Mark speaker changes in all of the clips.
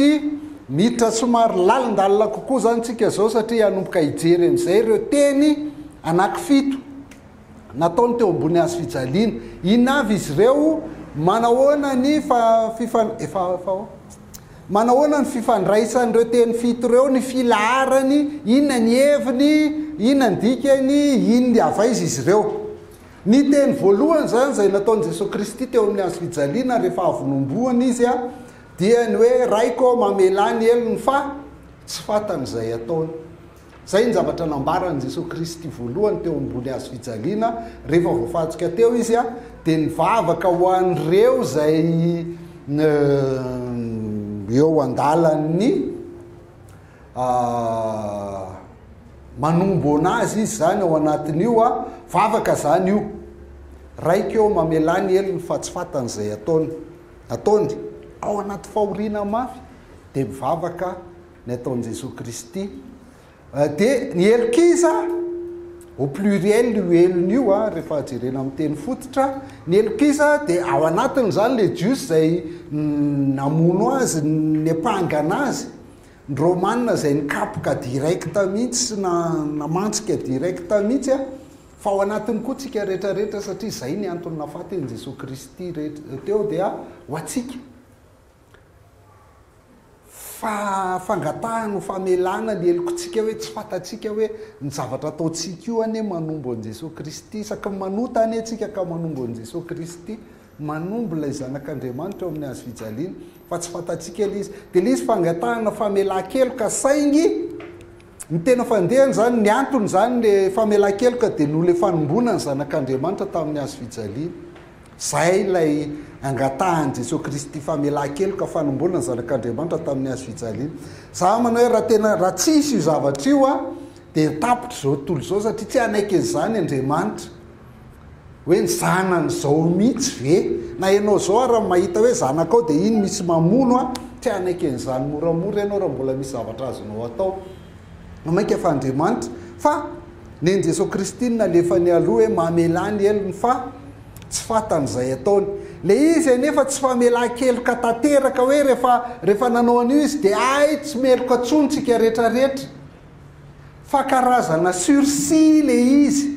Speaker 1: Ity, miditra somary lalindalina kokoa izany tsika izao satria hanomboka hijery amin'izay ireo teny anankifito nataony teo ambony hazo fijaliana. Inona avy izy ireo? Manahoana ny fifan... efa efa ao? Manahoana ny fifandraisan'ireo teny fito ireo, ny filaharany, inona ny heviny, inona ny dikany, inona avaiza izy ireo? Ny teny voalohany izany izay nataon'i Jesoa Kristy teo amin'ny hazo fijaliana rehefa avy nohomboana Izy dia ny hoe Raiko ô, mamelà ny helony fa tsy fantany izay ataony. Izay ny zavatra nambaran'i Jesoa Kristy voalohany teo ambony hazo fijaliana rehefa voafantsika teo Izy dia nivavaka ho an'ireo izay eo an-dalan'ny manombo anazy izy zany ao anatin'io a, vavaka zany io, raika eo mamelà ny helony fa tsy fatany zay ataony, ataony, ao anaty fahoriana mafy de mivavaka ny ataon'i Jesoa Kristy, de ny helokiza au pluriel io helony io a, rehefa jerena amin'ny teny fototra, ny helokiza de ao anatin'izany le Jiosy zay namono azy, nepangana azy, Ny Romana izay nikapoka direct mihitsy sy na namantsika direct mihitsy a, fa ao anatiny koa tsika rehetra rehetra satria izay ny antony nafaty an'i Jesoa Kristy rehetra teo dia ho antsika. Fa fangatahana ho famelana ny helokontsika hoe tsy fantatsika hoe ny zavatra ataontsika io anie manombo an'i Jesoa Kristy isaky ny manota anie tsika ka manombo an'i Jesoa Kristy Manombo ilay Zanak'Andriamanitra ao amin'ny hazofijaliana, fa tsy fantatsika ilay izy. Dia ilay izy fangatahana famelan-keloka, saingy ny tena fandehany izany, ny antony izany ilay famelan-keloka dia noho ilay fanomboana ny Zanak'Andriamanitra tamin'ny hazofijaliana. Izay ilay angatahan'i Jesoa Kristy, famelan-keloka, fanomboana ny Zanak'Andriamanitra tamin'ny hazofijaliana. Izaho manao hoe raha tena, raha tsy hisy io zavatra io, dia tapitra izao tontolo izao, satria tsy hanaiky an'izany Andriamanitra. Hoe ny zanany zao mihitsy ve? Na enao zao ary mahita hoe zanakao dia iny misy mamono an, tsy hanaiky an'izany moramora ianao raha mbola misy zavatra azonao atao. Ho mainka fa Andriamanitra, fa nen'i Jesoa Kristy no nalefany aloha hoe mamelà ny helony fa tsy fatany izay ataony. Ilay izy anefa tsy famelan-keloka tanteraka hoe rehefa rehefa nanao an'io izy dia hay tsy meloka tsony tsika retraretra. Fa karazana sursis ilay izy.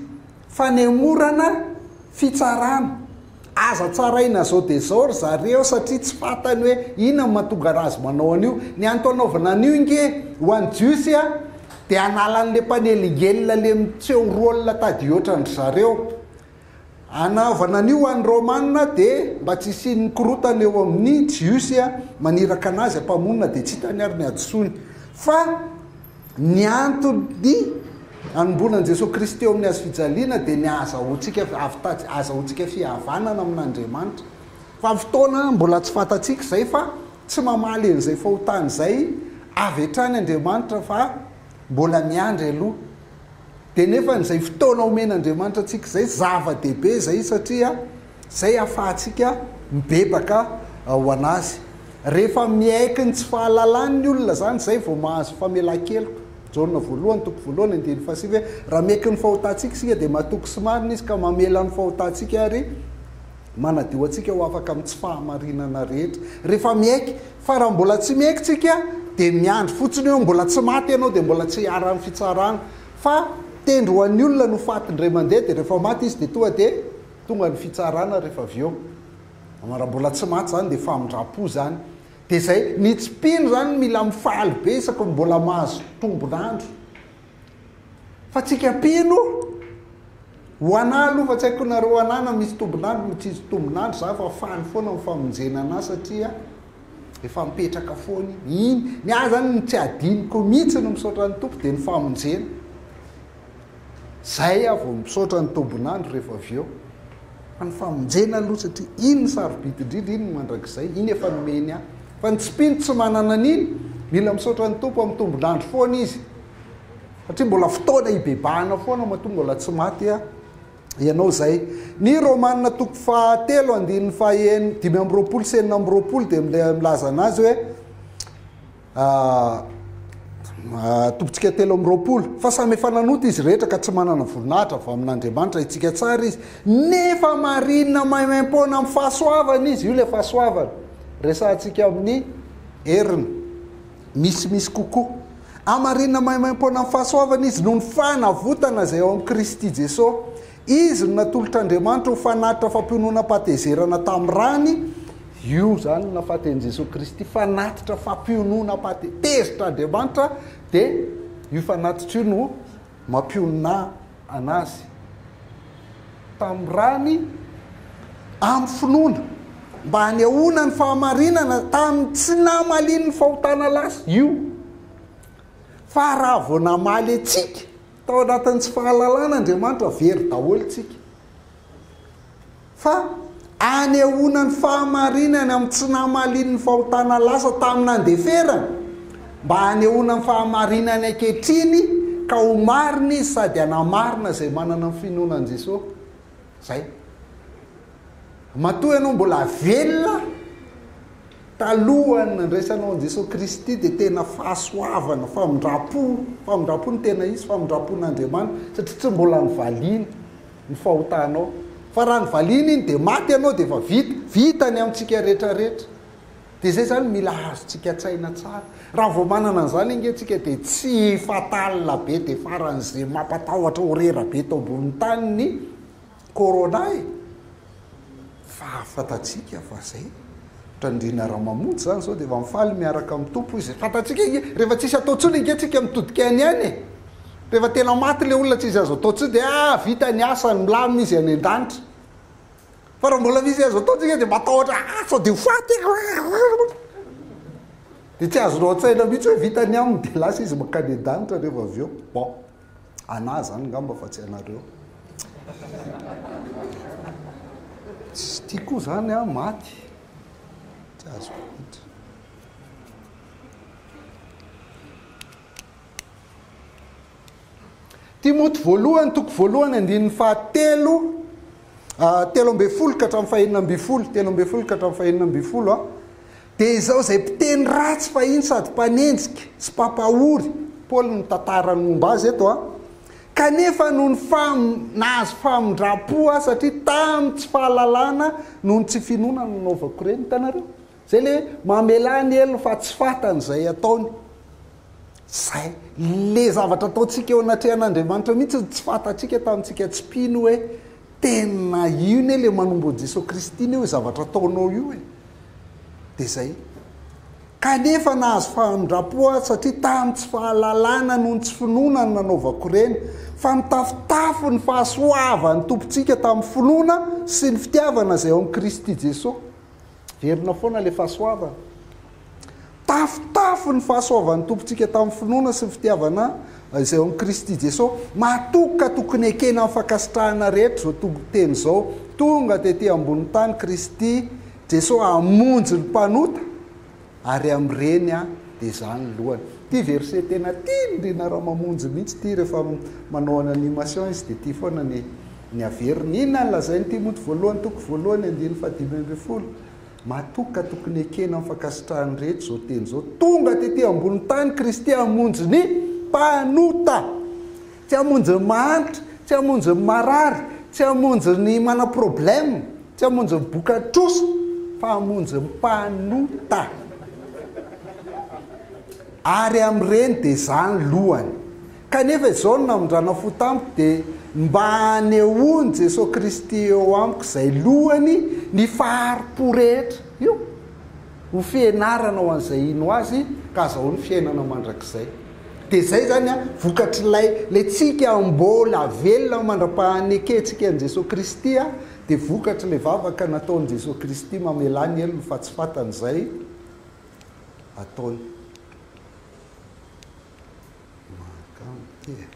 Speaker 1: Fanemorana fitsarana. Aza tsaraina zao dia zao ry zareo satria tsy fatany hoe inona no mahatonga razy manao an'io. Ny antony anaovana an'io nge ho an'i Jiosy a dia hanala an'le mpanelingelina le miseho rôle tady hoatran'dry zareo. Anaovana an'io ho an'ny Rômana dia mba tsy hisian'ny korotana eo amin'ny Jiosy a maniraka anazy hampamonina dia tsy hitany ary ny hadisoany. Fa. Ny antony anomboana an'i Jesoa Kristy eo amin'ny hazofijaliana dia ny ahazahoantsika avitatsi ahazahoantsika fihavanana amin'Andriamanitra. Fa fotoana mbola tsy fantatsika izay fa tsy mamaly an'izay fahotana izay avy hatrany Andriamanitra fa mbola miandry aloha. Dia nefany izay fotoana omen'Andriamanitra antsika izay zava-dehibe izay satria. Izay ahafahantsika mibebaka ho an'Azy. Rehefa miaiky ny tsy fahalalany ny olona izany, izay vao mahazo famelan-keloka. Jaona voalohany, toko voalohany, andininy fahasivy hoe, Raha miaiky ny fahotantsika isika, dia matoky sy marina Izy ka mamela ny fahotantsika ary manadio antsika ho afaka amin'ny tsy fahamarinana rehetra. Rehefa miaiky. Fa raha mbola tsy miaiky tsika, dia miandry fotsiny hoe mbola tsy maty ianao, dia mbola tsy hiharan'ny fitsarana. Fa tendro ho an'ny olona no fatin-dray mandeha, dia rehefa maty izy dia tonga dia. Tonga ny fitsarana rehefa avy eo raha mbola tsy maty zany dia famindrampo zany dia zay ny tsy mpino zany no mila mifaly be isaky ny mbola mahazo tombon'andro fa tsika mpino ho anah aloha fa tsy haiko nareo anah na misy tombon'andro na tsisy tombon'andro za fa faly foana ny famonjena anah satria efa mipetraka foana iny ny ahy zany ny tsy adinoko mihitsy ny misaotra ny tompo dia ny famonjena Zay aho vao misaotra ny tombon'andro rehefa avy eo fa ny famonjena aloha satria iny ny sarobidy indrindra iny ny mandrakizay iny efa nomeny ahy fa ny tsy mpino tsy manana an'iny mila misaotra ny tompo amin'ny tombon'andro foana izy satria mbola fotoana hibebahana foana matoa mbola tsy maty aho ianao zay ny romanina toko fahatelo andininy faheno dimy amby roapolo sy enina amby roapolo dia milaza anazy hoe Tompintsika telo amby roapolo, fa samy efa nanota izy rehetra ka tsy manana voninahitra avy amin'Andriamanitra, hitsika tsara izy, nefa marina maimaim-poana amin'ny fahasoavana izy, io ilay fahasoavana resahantsika amin'ny heriny misimisy kokoa, hamarina maimaim-poana amin'ny fahasoavana izy noho ny fanavotana izay ao amin'i Kristy Jesoa. Izy no natolotr'Andriamanitra ho fanatitra fampiononam-patezerana tamin'ny rany, io izany no nafaten'i Jesoa Kristy, fanatitra fampiononam-pate, tezitra Andriamanitra dia io fanatitra io no mampionona an'Azy tamin'ny rany amin'ny finoana mba hanehoana ny fahamarinana tamin'ny tsy namalian'ny fahotana lasa, io fa raha vao namaly antsika, Tao anatin'ny tsy fahalalana Andriamanitra very daholo isika. Fa anehoana ny fahamarinany amin'ny tsy namalian'ny fahotana lasa tamin'ny nandeferany, mba hanehoana ny fahamarinany ankehitriny ka ho marina izy sady hanamarina izay manana ny finoana an'i Jesosy. Izay. Matoa ianao mbola velona, Talohan'ny nandraisanao an'i Jesoa Kristy dia tena fahasoavana, famindram-po, famindram-po no tena hisy, famindram-pon'Andriamanitra, satria tsy mbola nivaliany ny fahotanao. Fa raha nivaliany iny dia maty ianao dia efa vita, vita ny amintsika rehetrarehetra. Dia izay izany mila azontsika an-tsaina tsara. Raha vao manana an'izany ange isika dia tsy fatal be dia faran'izay mampatahotra horera be eto ambonin'ny tany ny Corona e! Fahafantatsika fa zay. Drandriana Ramamonjy zany zao dia efa mifaly miaraka amin'ny Tompo izy. Fantatsika ange, rehefa tsisy atao tsony ange tsika mitodika any any e. Rehefa tena maty le olona tsisy azo atao tsony dia ah vita ny asany milamina izy any an-danitra. Fa raha mbola misy azo atao tsika dia matahotra ah sao dia ho faty aho. Dia tsy azonao an-tsaina mihitsy hoe vita ny aminy dia lasa izy mankany an-danitra rehefa avy eo. Bon. Anah zany ngamba fa tsy anareo. Tsy tia koa zany a, maty. Tsy azoko mihitsy. Timoty voalohany, toko voalohany, andininy fahatelo, ah, telo ambin'ny folo ka hatramin'ny fahenina ambin'ny folo, telo ambin'ny folo ka hatramin'ny fahenina ambin'ny folo, a. Ah. Dia izao izay mpiteny ratsy fahiny sady mpanenjika sy mpampahory, Paoly no mitantara ny momba azy eto a, kanefa noho ny fam, nahazo famindram-po aho satria tamin'ny tsy fahalalana noho ny tsy finoana no nanaovako ireny. Hitanareo? Izay ilay hoe mamelà ny helony fa tsy fantany izay ataony. Izay. Ilay zavatra ataontsika eo anatrehan'Andriamanitra mihitsy no tsy fantatsika tamintsika tsy mpino hoe tena io anie ilay manombo an'i Jesoa Kristy anie io zavatra ataonao io e. dia zay. Kanefa nahazo famindrampo aho satria tamin'ny tsy fahalalana noho ny tsy finoana no nanaovako ireny, fa nitafotafo ny fahasoavan'ny Tompontsika tamin'ny finoana sy ny fitiavana izay ao amin'i Kristy Jesoa. Verina foana ilay fahasoavana. Tafotafo ny fahasoavan'ny Tompontsika tamin'ny finoana sy ny fitiavana izay ao amin'i Kristy Jeso. Matoky ka tokony ekena amin'ny fankasitrahana rehetra izao toriteny izao, Tonga tety ambonin'ny tany Kristy Jeso hamonjy ny mpanota, ary amin'ireny dia Izaho ny lohany. Ity verset tena tian'i Rina Ramamonjy mihitsy ity, rehefa manao ny animation izy dia ity foana ny ny averiny. Inona no lazain'ity monty voalohany toko voalohany andininy fahadimy ambin'ny folo? Matoa ka tokony ekena ny fankasitrahan'ny rehetra izao teny izao, Tonga tetỳ ambony tany Kristy hamonjy ny mpanota. Tsy hamonjy ny mahantra, tsy hamonjy ny marary, tsy hamonjy ny manana problème, tsy hamonjy ny boka trosa, fa hamonjy ny mpanota. Ary amin'ireny dia izaho ny lohany. Kanefa izao no namindranao fo tamiko, dia mba hanehoan'i Jesoa Kristy eo amiko izay lohany ny fahari-po rehetra. Io ho fianarana ho an'izay hino Azy ka hazahoany fiainana mandrakizay. Dia izay izany an, vokatr'ilay ilay tsika mbola velona mandra-pahanekentsika an'i Jesoa Kristy an, dia vokatr'ilay vavaka nataon'i Jesoa Kristy mamelà ny helony fa tsy fantany izay ataony. Mahakamo ity e.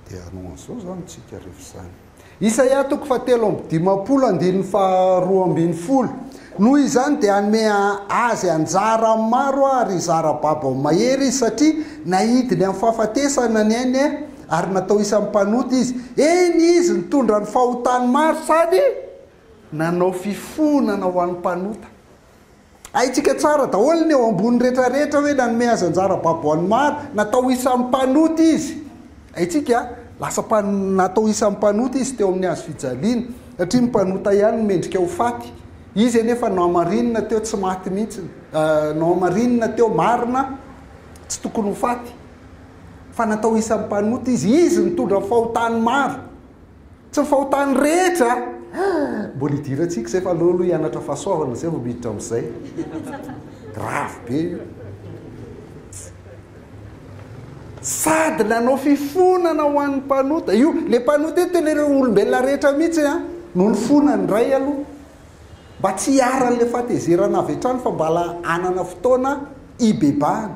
Speaker 1: Dia hanao an'izao izany tsika rehefa izany. Isaia toko fahatelo amby dimampolo andininy faharoa ambin'ny folo. Noho izany dia hanome azy anjara maro ary zara-babo amin'ny mahery izy satria naidiny amin'ny fahafatesana ny ainy Ary natao isan'ny mpanota izy. Eny, izy nitondra ny fahotany maro sady nanao fifonana ho an'ny mpanota. Haintsika tsara daholo ny eo ambony rehetrarehetra hoe nanome azy anjara babo ho an'ny maro, natao isan'ny mpanota izy. Haintsika, lasa mpa, natao isan'ny mpanota izy teo amin'ny hazo fijaliana, satria ny mpanota ihany no mendrika ho faty. Izy anefa nohamarinina teo tsy maty mihitsy, nohamarinina teo marina tsy tokony ho faty. fa natao isan'ny mpanota izy, izy nitondra ny fahotany maro, tsy ny fahotany rehetra, mbola hidirantsika izay fa aleo aloha hianatra fahasoavana izay vao miditra amin'izay, grave be io, sady nanao fifonana ho an'ny mpanota, io le mpanota io tena ireo olombelona rehetra mihitsy a no nifona ny iray aloha, mba tsy hiharan'ilay fahatezerana avy hatrany fa mbala hanana fotoana hibebahana,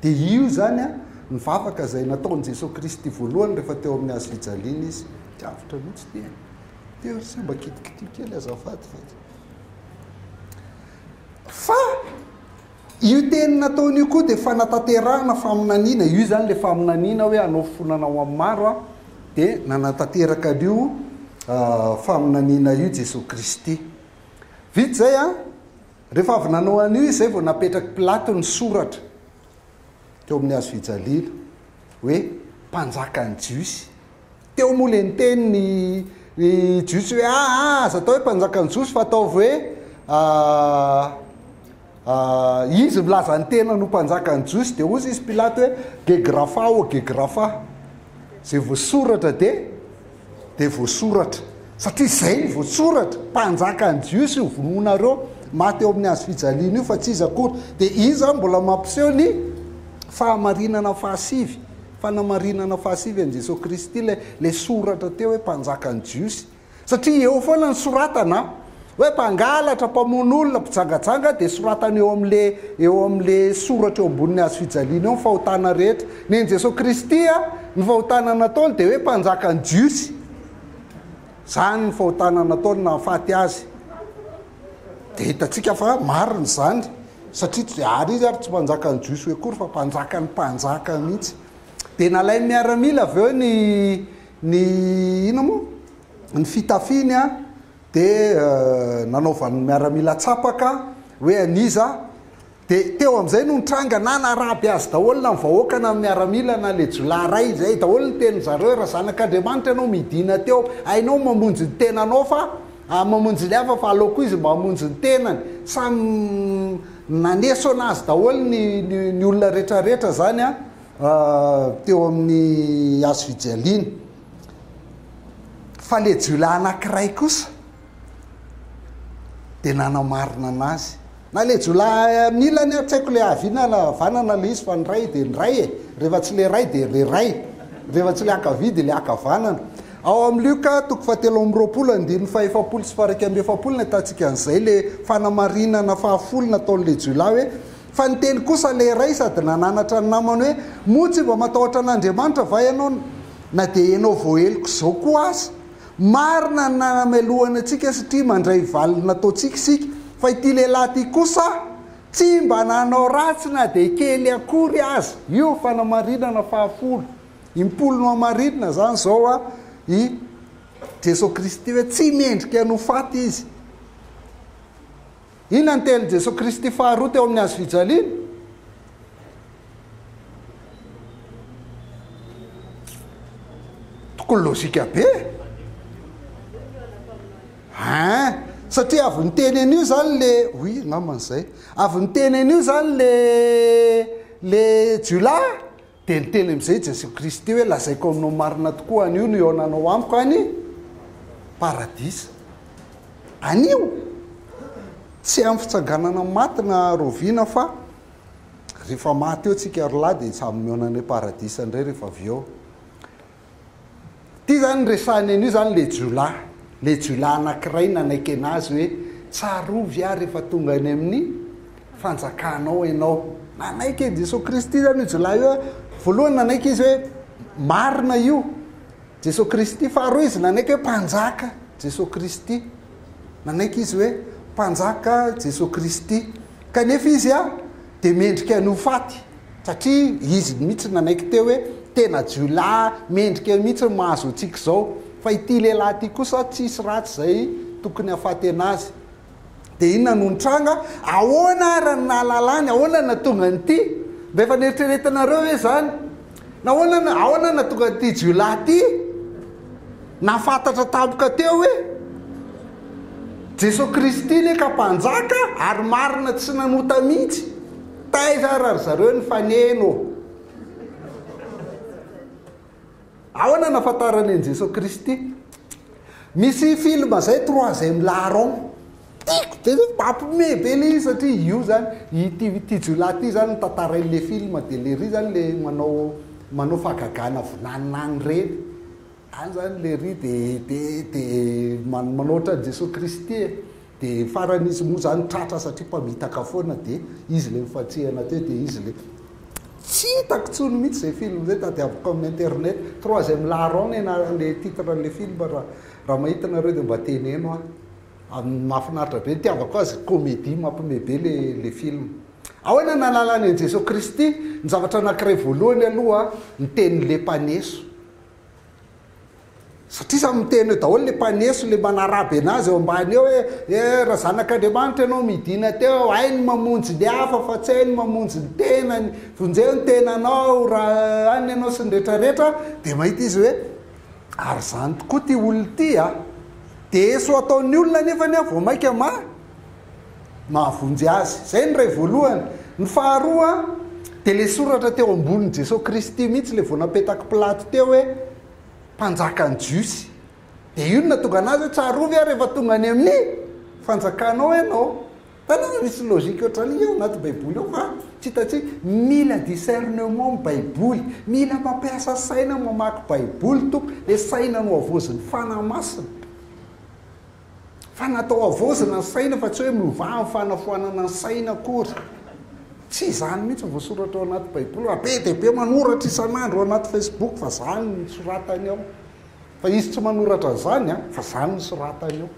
Speaker 1: Dia io izany an, ny vavaka izay nataon'i Jesoa Kristy voalohany rehefa teo amin'ny hazo fijaliana Izy. Tsy avotra mihitsy ity an. Teo ry se mba kitikitio kely azafady fa. Fa io teny nataony io koa dia fanatanterahana faminaniana. Io izany ilay faminaniana hoe hanao fifonana ho amin'ny maro aho. Dia nanatanteraka an'io faminaniana io Jesoa Kristy. Vita izay an. Rehefa avy nanao an'io izy izay vao napetrak'i Pilato ny soratra teo amin'ny hazo fijaliana hoe Mpanjakan'ny Jiosy. Teo moa ilay niteny ny ny Jiosy hoe ah, ah, aza atao hoe Mpanjakan'ny Jiosy fa ataovy hoe ah, ah, izy milaza ny tenany ho Mpanjakan'ny Jiosy dia hozy izy Pilato hoe Gegrafa o Gegrafa. Izay voasoratra dia Dia voasoratra, satria izay no voasoratra, mpanjakan'ny Jiosy io vonoinareo, maty eo amin'ny hazo fijaliana io, fa tsy iza akory. Dia io izany mbola mampiseho ny fahamarinana fahasivy, fanamarinana fahasivy an'i Jesoa Kristy, ilay ilay soratra teo hoe mpanjakan'ny Jiosy. Satria eo foana ny soratana an! Hoe mpangalatra, mpamono olona, mpijangajanga dia soratany eo amin'le eo amin'le soratra eo ambonin'ny hazo fijaliana eo ny fahotana rehetra. Nen'i Jesoa Kristy a, ny fahotana nataony dia hoe mpanjakan'ny Jiosy. Zany ny fahotana nataony nahafaty azy. Dia hitantsika fa marina izany satria tsy ary izy ary tsy mpanjakan'ny Jiosy akory fa mpanjakan'ny mpanjaka mihitsy. Dia nalain'ny miaramila avy eo ny ny ina moa? Ny fitafiny a. dia nanaovan'ny miaramila tsapaka hoe an'iza, dia teo amin'izay no nitranga nanaraby azy daholo na ny vahoaka na ny miaramila na ilay jiolahy iray, izay daholo ny tenin'ny zareo, raha zanak'Andriamanitra ianao midina teo, hainao mamonjy ny tenanao fa mamonjy ny hafa fa aleo koa izy mba hamonjy ny tenany, samy nanesona azy daholo ny ny olona retraretra izany an, teo amin'ny hazofijaliana. Fa ilay jiolahy anankiray kosa dia nanao marina anazy. Na ilay jiolahy amin'ny ilany ary tsy haiko ilay haviana na havanana ilay izy fa ny ray dia ny ray e. Rehefa tsy ilay ray dia ilay ray. Rehefa tsy ilay ankavia dia ilay ankavanana. Ao amin'ny Lioka toko fahatelo amby roapolo andininy fahefapolo sy faha iraika amby efapolo no ahitantsika an'izay ilay fanamarinana fahafolony ataon'ilay jiolahy hoe Fa niteny kosa ilay iray sady nananatra ny namany hoe, Moa tsy mba matahotra an'Andriamanitra va ianao na dia ianao voaheloka izao koa aza? Marina ny nanamelohany antsika satria mandray valiny nataontsika isika. Fa ity lehilahy ity kosa tsy mba nanao ratsy na dia kely akory aza. Io fanamarinana fahafolo impolo no hamarinina izany izao a! i Jesoa Kristy hoe tsy mendrika ny ho faty izy. Inona ny tenin'i Jesoa Kristy faharoa teo amin'ny hazo fijaliana? Tokony lojika be e! Hein? Satria avy niteny an'io izany le oui angambany izay. Avy niteny an'io izany le le jiolahy. Dia niteny amin'izay Jesoa Kristy hoe, Lazaiko aminao marina tokoa, anio no hihaonanao amiko any Paradisa. Anio! Tsy amin'ny fitsanganana maty na rahoviana fa rehefa maty eo tsika ry lahy dia samy mihaona any Paradisa indray rehefa avy eo. Ity izany resahiny an'io izany ilay jiolahy, ilay jiolahy anankiray nanaiky an'azy hoe tsarovy aho rehefa tonga any amin'ny fanjakanao ianao. Nanaiky an'i Jesoa Kristy izany io jiolahy io. Voalohany nanaiky izy hoe marina io, Jesoa Kristy. Faharoa izy nanaiky hoe mpanjaka Jesoa Kristy. Nanaiky izy hoe mpanjaka Jesoa Kristy. Kanefa izy dia mendrika ny ho faty. satria izy mihitsy no nanaiky teo hoe tena jiolahy mendrika eo mihitsy no mahazo antsika izao fa ity lehilahy ity kosa tsisy ratsy izay tokony hafatena azy dia inona no nitranga ahoana ary no nahalalany ahoana no nahatonga an'ity mba efa neritreretinareo hoe izany nahoana no ahoana no nahatonga an'ity jiolahy ity nafantatra tampoka teo hoe Jesoa Kristy leka mpanjaka ary marina tsy nanota mihitsy Taiza ary ry zareo nifaneno? Ahoana nahafantarany an'i Jesoa Kristy? Misy film zay troisième larron. Tiako be zany, mampiomehy be le izy satria io zany, ity ity jiolahy ity zany no tantarainy le film de lery zany le manao manao fahagagana vinanina any reny. Any zany Lery de de de manoatra an'i Jesoa Kristy e, de farany izy moa zany tratra satria mpamitaka foana de izy le nifantsihana teo de izy le tsy hitako tsony mitsy zay film zay tadiaviko amin'ny internet, troisième larron ny anarany le titre anle film ra ra mahita nareo de mba teneno ahy amin'ny mahafinaritra be, ny tiavako azy comedie mampime be le le film. Ahoana no analany an'i Jesoa Kristy? Ny zavatra anankiray voalohany aloha ny tenin'le mpaneso, Satria samy miteny eo daholo le mpaneso le manaraby anazy eo ambany eo hoe eh ra zanak'Andriamanitra ianao midina teo hay ny mamonjy ny hafa fa tsy hay ny mamonjy ny tenany vonjeo ny tenanao ra any ianao sy ny retraretra de mahita izy hoe ary zany tokoa ty olona ty a de eso ataon'ny olona anefany a vao maika ma mahavonjy azy. Izay ny iray voalohany. Ny faharoa dia ilay soratra teo ambonin'i Jesoa Kristy mihitsy ilay vao napetak'i Pilato teo hoe mpanjakan'ny Jiosy. Dia io no nahatonga anazy hoe tsarovy aho rehefa tonga any amin'ny fanjakanao ianao. Tanana misy logique ohatrany io anaty Baiboly ao fa tsy hitantsika. Mila discernement ny Baiboly. Mila mampiasa saina mamaky Baiboly tompoko. Ilay saina nohavaozin'ny Fanahy Masina. Fa natao havaozana ny saina fa tsy hoe miovà amin'ny fanafoanana ny saina akory. Tsy izany mihitsy ny voasoratra ao anaty Baiboly. Raha be dia be manoratra isan'andro ao anaty Facebook fa izany no soratany ao. Fa izy tsy manoratra an'izany an, fa izany no soratany ao.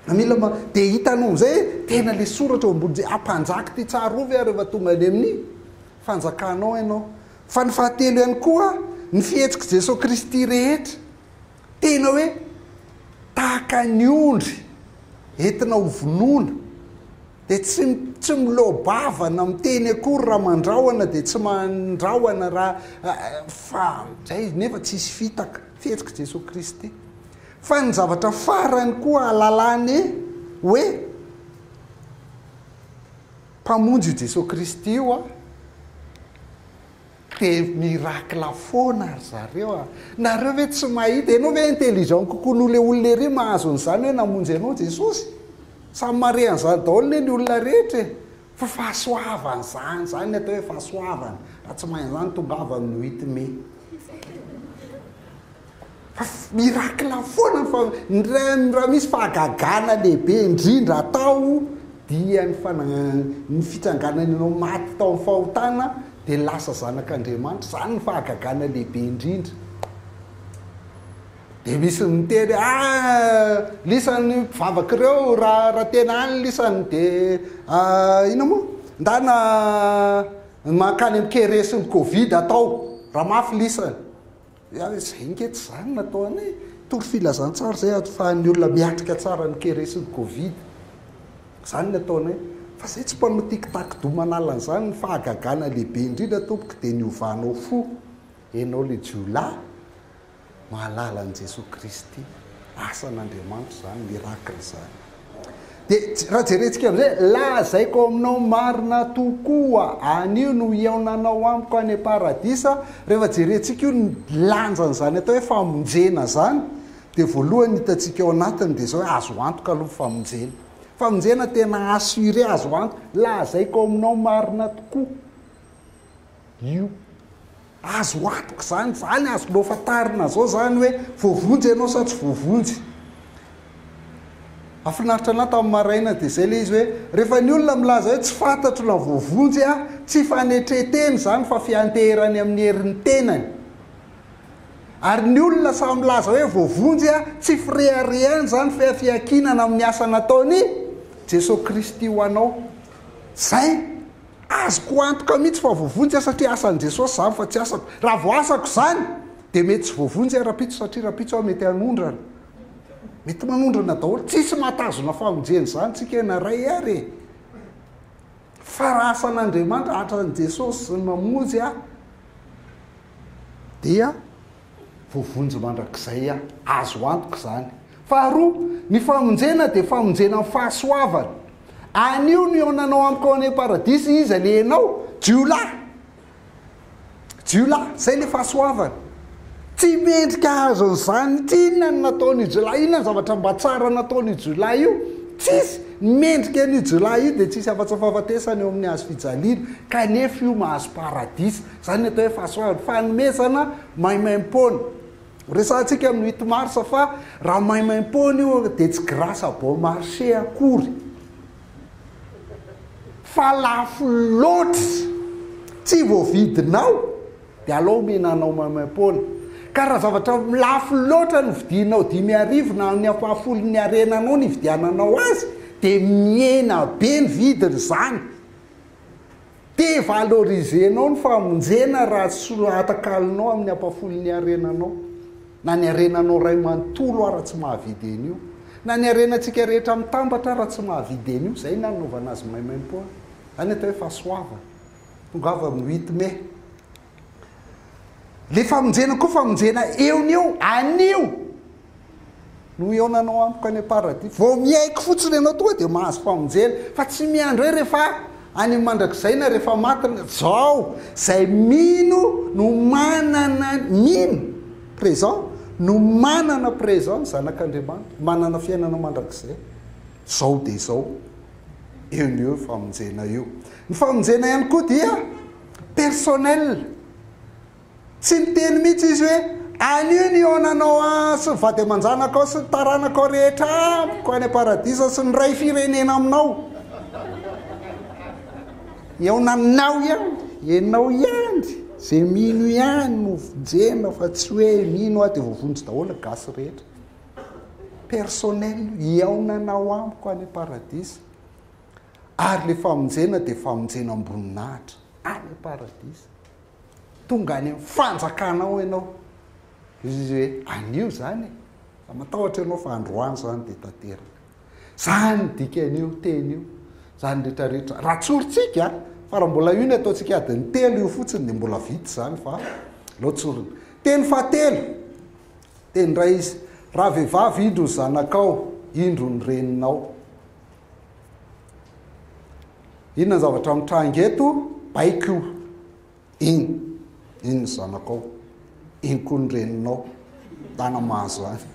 Speaker 1: Na mila ma... dia hitanao amin'izay hoe tena ilay soratra eo ambony je- hampanjaka ity tsarovy aho rehefa tonga any amin'ny fanjakanao ianao. Fa ny fahatelo ihany koa, ny fihetsik'i Jesoa Kristy rehetra. Tena hoe tahaka ny ondry entina ho vonoina, dia tsy tsy miloa-bavana miteny akory raha mandrahona dia tsy mandrahona raha fa izay nefa tsy hisy fitaka fihetsika Jesoa Kristy. Fa ny zavatra farany koa alalany hoe Mpamonjy io Jesoa Kristy io an! Mpe miracle foana ry zareo a! Nareo ve tsy mahita? Enao ve intelligent kokoa noho le olona ery mahazo an'izany hoe namonjy anao Jesosy? Samy mahare an'izany daholo ne ny olona rehetra e! Fa fahasoavana izany, izany ny atao hoe fahasoavana, raha tsy mahay an'izany tongava amin'ny huit mai. Fa miracle foana fa raha misy fahagagana lehibe indrindra atao dia ny ny fitsanganany anao maty tao amin'ny fahotana dia lasa zanak'Andriamanitra, izany no fahagagana lehibe indrindra. Dia misy ny miteny hoe ah lisany mpivavaka ireo raha raha tena any lisany dia ah, inona moa? Ndana mankany amin'ny keresin'ny covid atao raha mafy lisany. Ary izay ange tsy izany no natao anay. Tory filazantsara izay ahafahan'ny olona miatrika tsara ny kere sy ny covid. Izany no atao anay. Fa izay tsy mpanao tiktak doux manala an'izany, ny fahagagana lehibe indrindra tompoko dia ny hovanao fo. Ianao ilay jiolahy mahalala an'i Jesoa Kristy. Asan'Andriamanitra izany, miracle izany. Dia raha jerentsika amin'izay, lazaiko aminao marina tokoa, anio no hihaonanao amiko any am-paradisa, rehefa jerentsika io ny lanjan'izany atao hoe famonjena izany, dia voalohany hitantsika ao anatiny dia izao hoe azo antoka aloha ny famonjena. Famonjena tena assuré, azo antoka, lazaiko aminao marina tokoa. io. Azo antoka izany, izany azonao fantarina izao izany hoe voavonjy ianao sa tsy voavonjy. Hafinaritra anah tamin'ny maraina dia izay ilay izy hoe, rehefa ny olona milaza hoe tsy fantatro na voavonjy aho, tsy fanetren-tena izany fa fianteherany amin'ny herin'ny tenany. Ary ny olona samy milaza hoe voavonjy aho, tsy fireharehany izany fa fiankinana amin'ny asa nataon'i Jesoa Kristy ho anao. Izay! Azoko antoka mihitsy fa voavonjy aho satria asan'i Jesosy izany fa tsy asako. Raha vao asako izany dia mety tsy voavonjy aho rahampitso satria rahampitso aho mety hanondrana. Mety manondrana daholo. Tsisy mahatazona famonjena izany tsika na iray ary e. Fa raha asan'Andriamanitra, atran'i Jesosy ny mamonjy aho dia voavonjy mandrakizay aho. Azo antoka izany. Faharoa, ny famonjena dia famonjena amin'ny fahasoavana. Anio no hihaonanao amiko ao any am-paradisa Iza le enao? Jiolahy! Jiolahy! Izay ilay fahasoavana. Tsy mendrika hahazo an'izany tsy inona ny nataon'io jiolahy, inona ny zavatra mba tsara nataon'io jiolahy io? Tsisy! Ny mendrika an'io jiolahy io dia tsy hisy afa-tsy fahafatesana eo amin'ny hazo fijaliana, kanefa io mahazo paradisa. Izany ny atao hoe fahasoavana, fanomezana maimaim-poana. Resahantsika amin'ny huit mars fa raha maimaim-poana io dia tsy grâce à bon marché akory fa lafo loatra, tsy voavidinao dia alao omena anao maimaim-poana. Ka raha zavatra lafo loatra no vidianao dimy arivo na ny ampahafolon'ny harenanao no ividiananao azy dia mihena be ny vidiny izany. Devaloriser-nao ny famonjena raha tsy soa atakalinao amin'ny ampafolony ny harenanao, na ny harenanao iray manontolo ara tsy mahavidy an'io, na ny harenantsika rehetra mitambatra ara tsy mahavidy an'io, izay no hanaovana azy maimaimpoana. Izany atao hoe fahasoavana. Tongava amin'ny huit mai. Le famonjena koa famonjena eo ny eo, anio no hihaonanao amiko any am-paradis. Vao miaiky fotsiny ianao tonga dia mahazo famonjena, fa tsy miandry hoe rehefa any amin'ny mandrakizay na rehefa maty, zao zay mino no manana, mino, présent, no manana présent ny zanak'Andriamanitra, manana fiainana mandrakizay, zao dia zao, eo ny eo io famonjena io. Ny famonjena ihany koa dia. personnel tsy niteny mihitsy izy hoe anio ny honanao an sy ny vady aman-janakao sy ny taranakao rehetra amiko any am-paradisa sy ny ray firenena aminao eonanao ihany enao ihany ze mino ihany no vonjena fa tsy hoe mino aho dia voavonjy daholo gasy rehetra personnel eonanao amiko any am-paradisa ary ilay famonjena dia famonjena am-boninahitra any am-paradisa. Tonga any amin'ny fanjakanao ianao. Izy izy hoe anio izany e. Fa matahotra ianao fa androany izany dia tanteraka. Izany ny dikan'io teny io. Izany rehetra rehetra. Raha tsorintsika, fa raha mbola io ny ataontsika adin'ny telo io fotsiny dia mbola vita izany fa aleo tsorina. Teny fahatelo, teny iray izy. Raha vehivavy indro ny zanakao, indro ny reninao. Inona ny zavatra mitranga eto? Baiko io. Iny. Iny ny zanakao. Iny koa ny reninao. Tana mahazo any.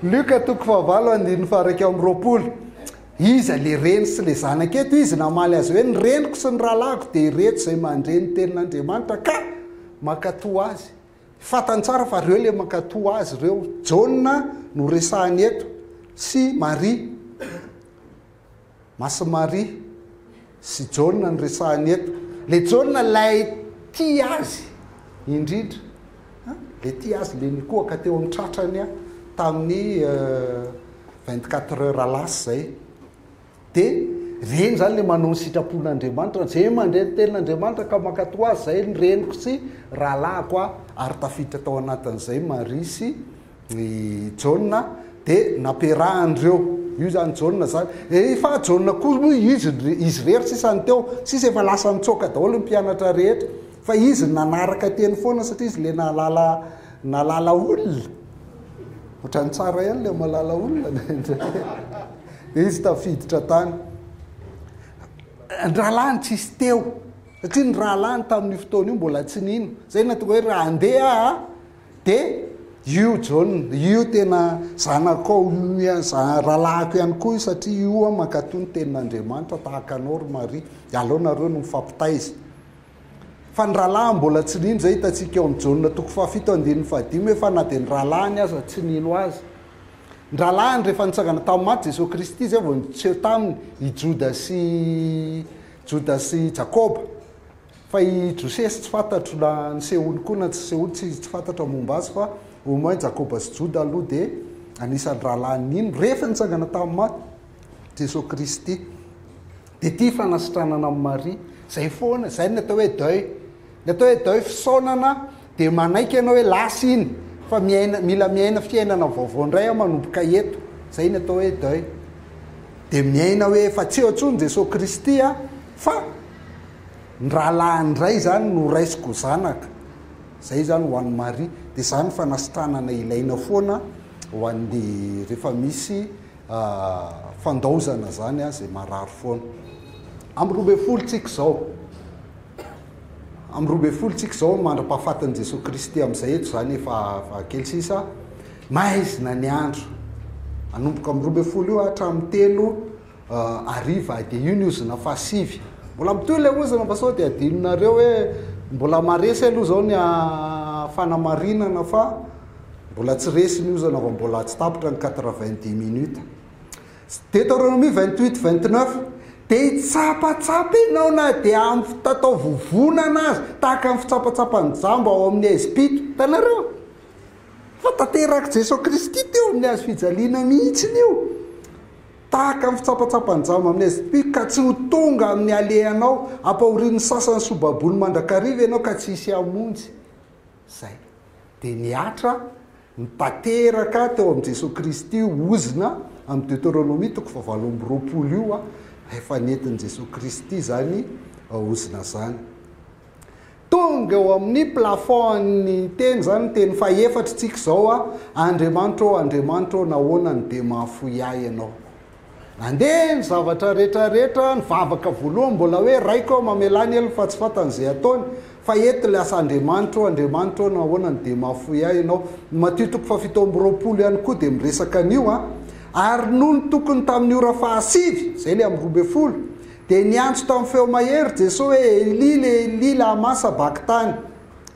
Speaker 1: Luka toko fahavalo andininy faharaika amin'ny roapolo. Iza le reny sy le zanaka eto? Izy namaly azy hoe ny reniko sy ny rahalahiko dia ireto izay mandre ny tenin'Andriamanitra ka makatoa azy. Fantany tsara fa reo le mankato azy reo. Jaona no resahany eto sy Maria. Masy Maria sy Jaona no resahany eto. Le Jaona lay tia azy indrindra. Le tia azy le nikohaka teo amin'ny tratrany tamin'ny 24 heures lasa zay. De reny zany le manao ny sitrapon'Andriamanitra, ze mandre ny tenin'Andriamanitra ka mankatò azy, zay ny reniko sy rahalahiko a, ary tafiditra tao anatin'izay Maria sy i Jaona, de nampiarahan'ireo, io zany Jaona zany, efa Jaona koa moa izy, izy rery sisa ny teo, sisa efa lasa nitsoaka daholo ny mpianatra rehetra, fa izy nanaraka teny foana satria izy le nahalala, nahalala olona. Ohatran'ny tsara ihany ilay malala olona indraindray. Izy tafiditra tany. Ny rahalahiny tsisy teo. Satria ny rahalahiny tamin'io fotoana io mbola tsy nino. Zay no nahatonga hoe raha handeha aho dia io John, io tena zanakao, io rahalahiko ihany koa io satria io aho mankatò ny tenin'Andriamanitra tahaka anao ry Maria. Dia aleo nareo no mifampitaiza. Fa ny rahalahiny mbola tsy nino izay hitantsika eo amin'ny Jaona toko fahafito andininy fahadimy hoe fa na dia ny rahalahiny aza tsy nino azy. Ny rahalahiny rehefa nitsangana tamin'ny maty Jesoa Kristy izay vao niseho taminy i Joda sy Joda sy Jakoba. Fa i Josesy tsy fantatro na nisehoany koa na tsy nisehoany tsy tsy fantatro ny momba azy fa au moins Jakoba sy Joda aloha dia anisan'ny rahalahiny nino rehefa nitsangana tamin'ny maty. Jesoa Kristy. Dia ity fanasitranana amin'i Maria. Izay foana, izay ny atao hoe deuil. Ny atao hoe deuil fisaonana dia manaiky ianao hoe lasa iny fa miaina, mila miaina fiainana vaovao indray aho manomboka eto. Izay ny atao hoe deuil. Dia miaina hoe efa tsy eo intsony Jesoa Kristy fa ny rahalahiny indray izany no raisiko zanaka. Izay izany ho an'i Maria. Dia izany fanasitranana ilaina foana ho an'ny rehefa misy fandaozana zany a zay marary foana am roa ambin'ny folo tsika zao am roa ambin'ny folo tsika zao mandra-pahafatin'i Jesoa Kristy am'zay eto zany efa fa kely sisa maizina ny andro anomboka am roa ambin'ny folo io hatramin'ny telo hariva dia io ny ozona fahasivy mbola mitohy le ozona fa sao dia adinonareo hoe mbola maresy aloha zao ny fanamarinana fa Mbola tsy resy ny ozana vao mbola tsy tapitra ny quatre vingt dix minutes. Deuteronomie vingt huit vingt neuf dia hitsapatsapa ianao na dia amin'ny fitatao vovonana aza, tahaka ny fitsapatsapan'ny jamba ao amin'ny Ezipito. Hitanareo? Fa tanterak'i Jesoa Kristy teo amin'ny hazo fijaliana mihitsy io. Tahaka ny fitsapatsapan'ny jamba amin'ny Ezipito, ka tsy ho tonga amin'ny alehanao, ampahorian'ny sasany sy ho baboin'ny mandrakariva ianao ka tsy hisy hamonjy. Izay. Dia ny Atra nitanteraka teo amin'i Jesoa Kristy ozona amin'ny Deteronomia toko fahavalo amby roapolo io, rehefa nentin'i Jesoa Kristy izany ozona izany. Tonga eo amin'ny plafond-n'ny teny izany ny teny fahefatry tsika izao, Andriamanitra ô, Andriamanitra ô, nahoana no dia mahafoy ahy Ianao? Nandeha ny zavatra rehetra rehetra, nivavaka voalohany mbola hoe Raiko aho mamelà ny helony fa tsy fantany izay ataony fa eto ilay asa Andriamanitra ô, Andriamanitra ô nahoana no dia mahafoy ahy Ianao? Ny Matio toko fahafito amby roapolo ihany koa dia miresaka an'io an! Ary nony tokony tamin'ny ora fahasivy, izay ilay amin'ny roa ambin'ny folo, dia niantso tamin'ny feo mahery Jesoa hoe Eli le Eli lama sabakitany?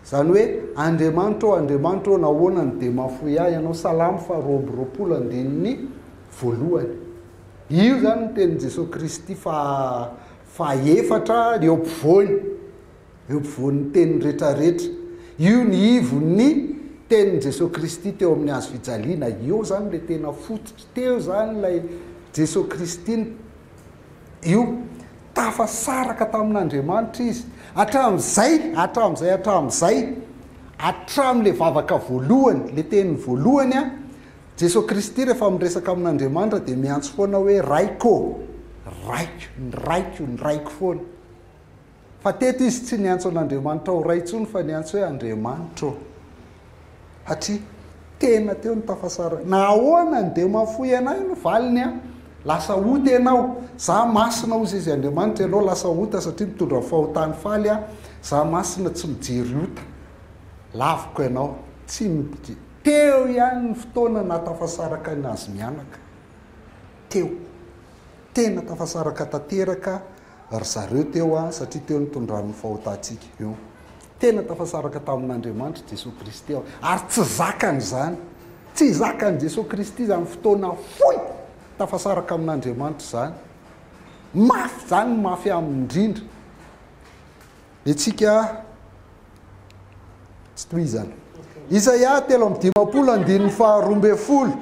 Speaker 1: izany hoe Andriamanitra ô, Andriamanitra ô nahoana no dia mahafoy ahy Ianao? Salamo faharoa amby roapolo andininy voalohany. Io izany ny tenin'i Jesoa Kristy faha-fahefatra eo ampovoany, eo ampovoan'ny teny rehetrarehetra. Io ny ivon'ny tenin'i Jesoa Kristy teo amin'ny hazo fijaliana. Eo izany ilay tena fototry, teo izany ilay Jesoa Kristy. Io, tafasaraka tamin'Andriamanitra Izy. Hatramin'izay, hatramin'izay, hatramin'izay, hatramin'ilay vavaka voalohany, ilay teny voalohany, Jesoa Kristy rehefa miresaka amin'Andriamanitra dia miantso foana hoe Raiko ô! Raiko, ny Raiko, ny Raiko foana. Fa teto izy tsy niantso an'Andriamanitra ho Ray intsony fa niantso hoe Andriamanitra ô! Satria tena teo ny tafasarany. Na ahoana ny dia mahafoy anay no valiny an! Lasa ota ianao. Za masina hozy izy Andriamanitra, ianao lasa ota satria mitondra ny fahotany faly an! Za masina tsy mijery ota. Laviko ianao. Tsy Teo ihany ny fotoana nahatafasaraka an'i Nazy mianaka. Teo. Tena tafasaraka tanteraka ry zareo teo satria teo nitondran'ny fahotantsika eo. Tena tafasaraka tamin'Andriamanitra, Jesoa Kristy aho. Ary tsy zakany izany. Tsy zakan'i Jesoa Kristy izany fotoana fohy tafasaraka amin'Andriamanitra izany. Mafy izany, mafy aminy indrindra. Hetsika tsy tohizana. Isaia telo amby dimampolo andininy faharoa ambin'ny folo.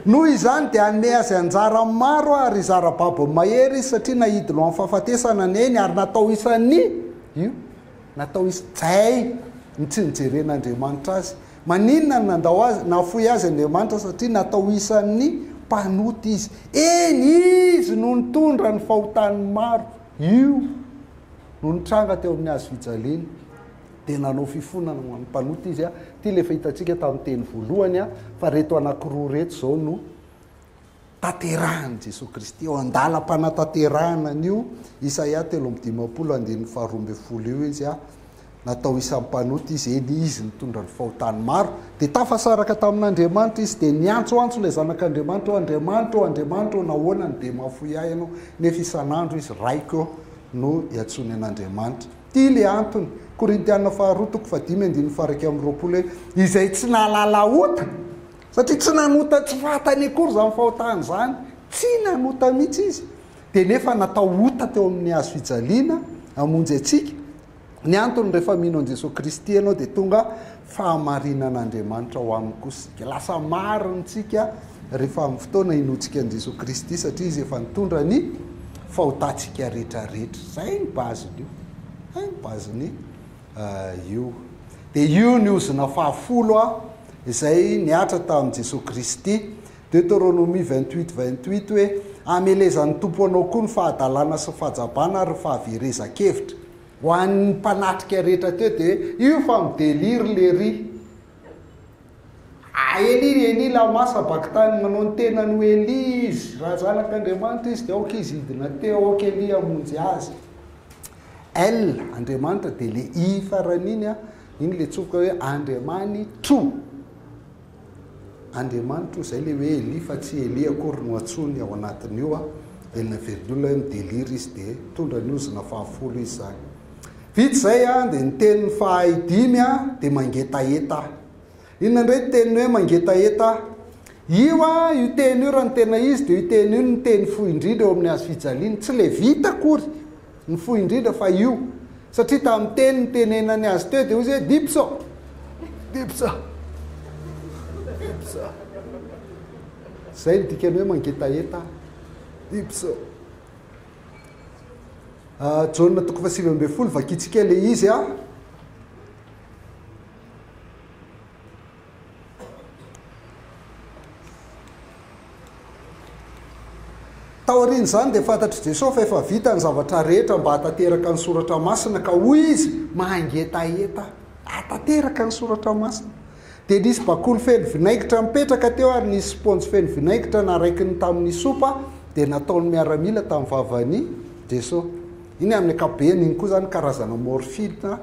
Speaker 1: Noho izany dia hanome azy anjara maro ary zara babony mahery izy satria naidina ho amin'ny fahafatesana ny ainy ary natao isan'ny io natao isan'ny zay ny tsy nijeren'Andriamanitra azy. Maninona no nandao azy nafoy azy Andriamanitra satria natao isan'ny mpanota izy. Eny izy no nitondra ny fahotan'ny maro. Io no nitranga teo amin'ny hazofijaliana. Dia nanao fifonana ho an'ny mpanota izy. Ity ilay efa hitantsika tamin'ny teny voalohany fa ireto anankiroa ireto izao no tanterahin'i Jesoa Kristy. Eo an-dalam-panatanterahana an'io Isaia telo amby dimampolo andininy faharoa ambin'ny folo io izy. Natao isan'ny mpanota izy, eny, izy nitondra ny fahotany maro. Dia tafasaraka tamin'Andriamanitra izy, dia niantsoantso ilay Zanak'Andriamanitra hoe, Andriamanitra ô, Andriamanitra ô, nahoana no dia mahafoy ahy Ianao? Nefa isan'andro izy, Raiko ô, no iantsoany an'Andriamanitra. Ity ilay antony, Korintiana faharoa toko fahadimy andininy faha-iraika amby roapolo hoe, Izay tsy nahalala ota, satria tsy nanota tsy fantany akory izany fahotany izany, tsy nanota mihitsy izy, dia nefa natao ota teo amin'ny hazo fijaliana hamonjy antsika, Ny antony rehefa mino an'i Jesoa Kristy ianao dia tonga fahamarinan'Andriamanitra ao aminy koa isika. Lasa marina isika rehefa amin'ny fotoana hinoantsika an'i Jesoa Kristy satria Izy efa nitondra ny fahotantsika rehetra rehetra. Izay ny bazin'io. Izay ny bazin'io. Eh, io. Dia io ny ozona fahafolo izay nihatra tamin'i Jesoa Kristy Deteronomia vingt huit vingt huit hoe, Hamelezan'ny Tompo anao koa ny fahadalana sy ny fahajabana ary ny fahaverezan-kevitra. Ho an'ny mpanatrika rehetra teo dia hoe, io fa mi-delire lery. Ah Elia ry Elia lama sabakthani manao ny tenany ho Elia izy, raha zanak'Andriamanitra izy dia aoka izy hidina teo, aoka Elia hamonjy azy. El, Andriamanitra, dia ilay i farany iny an, iny ilay tsofoka hoe Andriamanitro. Andriamanitro izay le hoe Elia fa tsy Elie akory no antsoiny ao anatin'io a! Velona velona olona hoe mi-delire izy dia tondra ny ozona fahafolo izy zany. Vita izay a, dia ny teniny fahay dimy a, dia mangetaheta. Inona indray ny teniny hoe mangetaheta? Io a, io teny io raha ny tena izy dia io teny io no teny fohy indrindra eo amin'ny hazo fijaliana, tsy le vita akory. Ny fohy indrindra fa io. Satria tamin'ny teny nitenenany azy teo dia hoy izy hoe, Dipso! Dipso! Dipso! Izay no dikan'ny hoe mangetaheta aho. Dipso! Ah, Jaona toko fahasivy ambin'ny folo, vakintsika ilay izy ah. Taorian'izany dia fantatr'i Jesosy fa efa vita ny zavatra rehetra mba hahatanteraka ny soratra masina ka hoy izy, Mangetaheta hahatanteraka ny soratra masina. Dia nisy bakoly feno vinaigitra nipetraka teo ary nisy spaonjy feno vinaigitra naraikiny tamin'ny sopa dia nataon'ny miaramila tamin'ny vavan'i Jesosy. Iny amin'ny ankapobeny iny koa izany karazana morphine.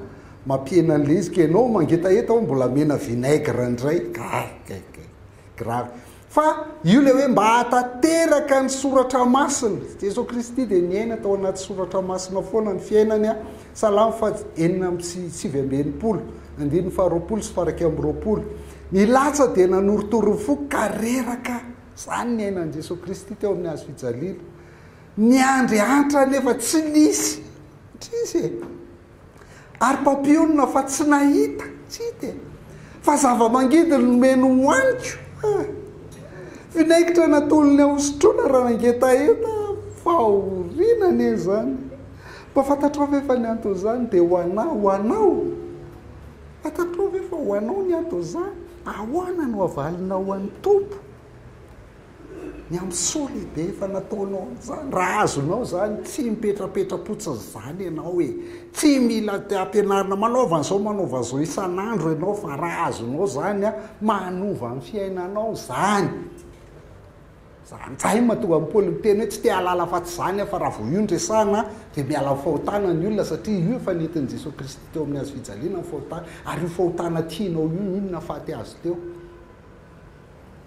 Speaker 1: Mampihena ny lezika ianao mangetaheta hoe mbola amena vinaigre indray. Gay, gay, gay. Grave. Fa io ilay hoe mba hahatanteraka ny soratra masina. Jesoa Kristy dia niaina tao anaty soratra masina foana ny fiainany. Salamo fat enina amby sivy amby enimpolo, andininy faharoapolo sy faraika amby roapolo. Ny latsa dia nanorotoro ny foko ka reraka. Izany ny ainan'i Jesoa Kristy teo amin'ny hazo fijaliana. Niandry antra nefa tsy nisy. Trisy e. Ary mpampionona fa tsy nahita, tsy hita e, fa zava-mangidy no nomeny hohaniko a! Vinaigitra natolony ahosotroina raha nangetaheta aho, fahoriana anie izany! Mba fantatrao ve fa ny anton'izany dia ho anà, ho anao? Fantatrao ve fa ho anao ny anton'izany? Ahoana no havalinao an'ny Tompo? Ny amin'ny soa lehibe efa nataonao an'izany. Raha azonao izany, tsy mipetrapetra-potsiny izany ianao e. Tsy mila ampianarina, manaova an'izao, manaova an'izao isan'andro ianao fa raha azonao izany, manova ny fiainanao izany. Izany izay no mahatonga an'i Paoly miteny hoe tsy te hahalala afa-tsy izany aho fa raha vao io no resahina dia miala amin'ny fahotana ny olona satria io efa nentin'i Jesoa Kristy teo amin'ny hazofijaliana ny fahotana ary io fahotana tianao io inona faty azy teo?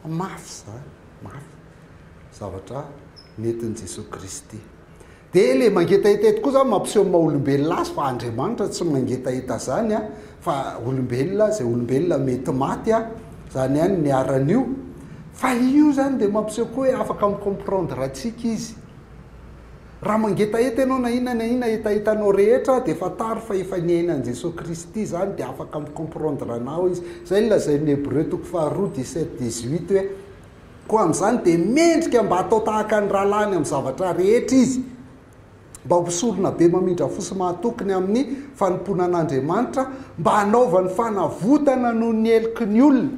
Speaker 1: Mafy izany, mafy. Zavatra nentin'i Jesoa Kristy. Dia ilay mangetaheta eto koa izany mampiseho ny maha-olombelona azy fa Andriamanitra tsy mangetaheta izany fa olombelona, izay olombelona mety maty, izany ihany ny aran'io. Fa io izany dia mampiseho koa hoe afaka mi-comprendre antsika izy. Raha mangetaheta ianao na inona na inona hetahetanao rehetra dia fantaro fa efa niaina an'i Jesoa Kristy izany dia afaka mi-comprendre anao Izy. Izay no lazain'ny Hebreo toko faharoa dix sept dix huit hoe Koa amin'izany dia mendrika mba hatao tahaka ny rahalahiny amin'ny zavatra rehetra izy mba ho sorona be mamindra fo sy mahatoky ny amin'ny fanompoana an'Andriamanitra mba hanaovany fanavotana noho ny heloky ny olona.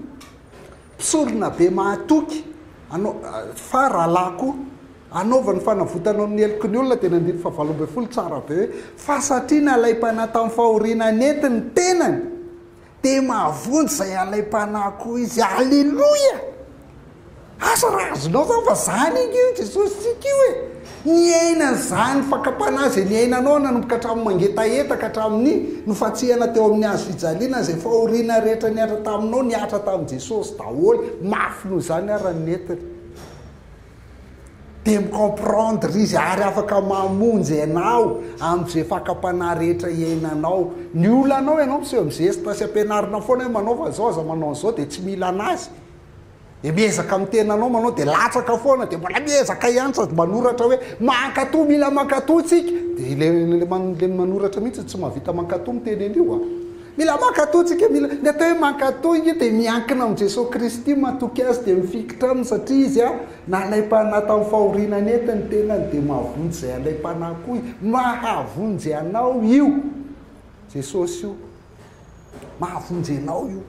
Speaker 1: Mpisorona be mahatoky anao fa rahalahy koa. Anaovany fanavotana ao amin'ny heloky ny olona, dia ny andininy fahavalo ambin'ny folo tsara be hoe, Fa satria nalaim-panahy tamin'ny fahoriana nety ny tenany, dia mahavonjy izay halaim-panahy koa izy. Aleloia! Asa raha azonao izany fa izany ange io Jesosy-tsika io e! Niaina an'izany fakam-panahy izay niainanao nanomboka hatramin'ny mangetaheta ka hatramin'ny nofantsihana teo amin'ny hazo fijaliana izay fahoriana rehetra nihatra taminao nihatra tamin'i Jesosy daholo mafy noho izany ary nentiny dia mi-comprendre izy ary afaka mamonjy anao amin'izay fakam-panahy rehetra iainanao ny olanao ianao miseho mizesta sy ampianarina foana hoe manaova izao aza manao an'izao dia tsy mila anazy dia miezaka amin'ny tenanao manao dia latsaka foana dia mbola miezaka ihany sady manoratra hoe mankatoa mila mankatoa tsika dia ilay ilay man- ilay manoratra mihitsy tsy mahavita mankatoa miteny an'io a mila mankatoa tsika mila ny atao hoe mankatoa io dia miankina amin'i Jesoa Kristy matoky azy dia mifikitra aminy satria izy a nalaim-panahy tamin'ny fahoriana nety ny tenany dia mahavonjy izay alaim-panahy koa i- mahavonjy anao io Jesosy io Mahavonjy anao io.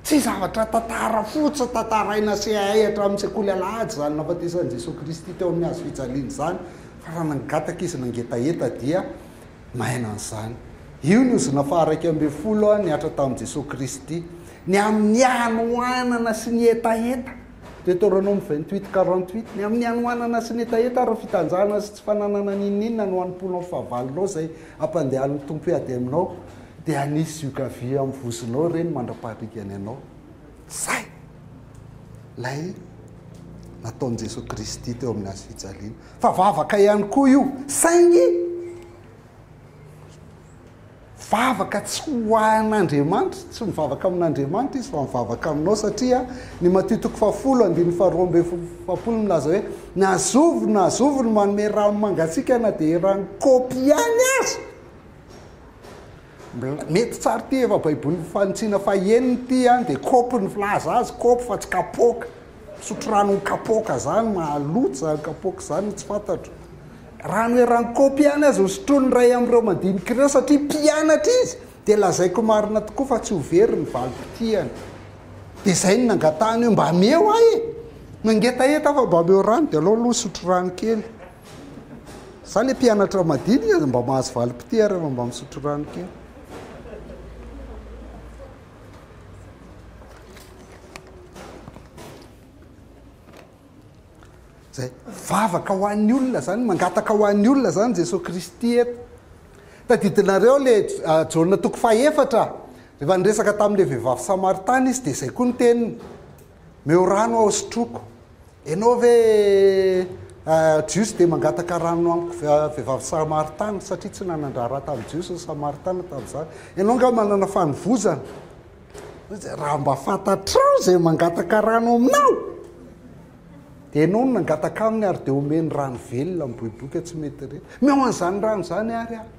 Speaker 1: Tsy zavatra tantara fotsiny tantaraina CAI hatramin'ny sekoly alahady izany nahafatesan'i Jesoa Kristy teo amin'ny hazo fijaliana izany, fa raha nangataka izy nangetaheta dia naina an'izany. Io ny ozona faha-raika ambin'ny folo nihatra tamin'i Jesoa Kristy. Ny amin'ny hanoanana sy ny hetaheta, Deuteronome vingt-huit quarante-huit, ny amin'ny hanoanana sy ny hetaheta ary ny fitanjahana sy tsy fananana n'inon'inona no hanompoanao fahavalonao izay Ampandehan'ny Tompo hiady aminao, dia hanisy zioka-vy amin'ny vozonao ireny mandra-paharigany anao. Izay! Ilay nataon'i Jesoa Kristy teo amin'ny Hazo fijaliana. Fa vavaka ihany koa io, saingy vavaka tsy ho an'Andriamanitra, tsy mivavaka amin'Andriamanitra izy fa mivavaka aminao satria ny Matio toko fahafolo andininy faharoa ambin'ny folo milaza hoe Na zovy na zovy no manome rano mangatsiaka na dia eran'ny kaopy ihany aza. Mety tsara ity efa baibolin'ny fanintsiana fahenina ity an, dia kaopy ny filaza azy, kaopy fa tsy kapoaka. Misotro ranon'ny kapoaka izany, mahaloa izany kapoaka izany, tsy fantatro. Rano eran'ny kaopy ihany aza hosotroin'ny iray amin'ireo mandinika ireo satria mpianatra izy. Dia lazaiko marina tokoa fa tsy ho very ny valim-potiany. Dia izay no nangatahany hoe, Mba ameo ahy e! Nangetaheta aho fa mba ameo rano, dia alao aloha hisotro rano kely. Izaho ilay mpianatra madinika dia mba mahazo valim-potia rehefa mba misotro rano kely. Izay. Vavaka ho an'ny olona izany, mangataka ho an'ny olona izany Jesoa Kristy eto. Tadidinareo ilay Jaona toko fahefatra, rehefa niresaka tamin'ilay vehivavy Samaritana Izy dia izay koa ny teniny. Meo rano aho sotroiko. Ianao ve Jiosy dia mangataka rano amiko vehivavy Samaritana satria tsy nanan-draharaha tamin'ny Jiosy ny Samaritana tamin'izany. Ianao nga manana fanovozana. Raha mba fantatrao izay mangataka rano aminao dia enao no nangataka aminy ary dia omeny rano velona miboiboika tsy mety re. Meo an'izany rano izany ary aho.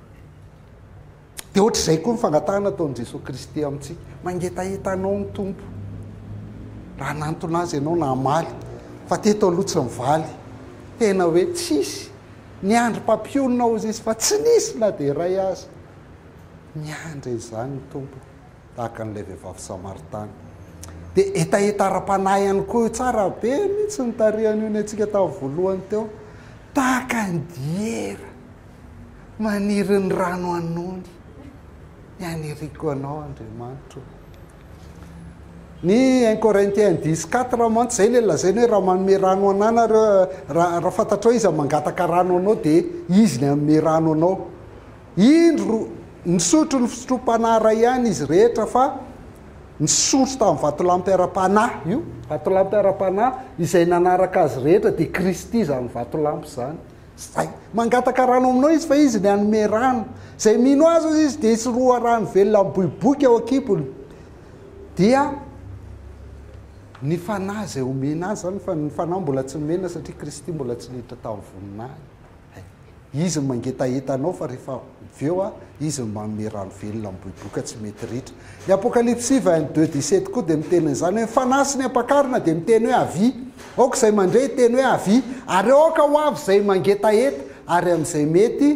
Speaker 1: Dia ohatr'izay koa ny fangatahana ataon'i Jesoa Kristy amintsika. Mangetaheta anao ny Tompo. Raha nantona azy ianao na hamaly. Fa teto aloha tsy mivaly. Tena hoe tsisy. Niandry mpampionona hozy izy fa tsy nisy na dia iray aza. Miandry an'izany ny Tompo. tahaka an'ilay vehivavy samaritany. Dia hetaheta ara-panahy ihany koa io. Tsara be mihitsy ny tarihan'io ny antsika tamin'ny voalohany teo. Tahaka ny diera maniry ny rano anony. Ny aniriko anao, Andriamanitro. Ny 1 Corinthiens 10, 4 mantsy izay ilay lazaina hoe raha manome rano ananareo, raha, raha fantatrao izy mangataka rano anao dia izy ny hanome rano anao. Indro, nisotro ny fisotroam-panahy iray ihany izy rehetra, fa nisondro tamin'ny vatolampy ara-panahy, io vatolampy ara-panahy izay nanaraka azy rehetra, dia Kristy izany vatolampy izany. Izay. Mangataka rano aminao izy, fa izy ny hanome rano. Izay mino azy hoy izy, dia hisy loharano velona miboiboika ao an-kibony. Dia ny Fanahy izay omena azy izany, fa ny Fanahy mbola tsy nomena, satria Kristy mbola tsy niditra tamin'ny voninahiny. Hay. Izy no mangetaheta anao fa rehefa avy eo a, Izy no manome rano velona miboiboika tsy mety ritra. Ny Apokalypsy xvi, and deux, dix, sept koa dia miteny an'izany hoe ny fanahy sy ny ampakarina dia miteny hoe avia. Aoka izay mandre hiteny hoe avia. Ary aoka ho avy izay mangetaheta, ary amin'izay mety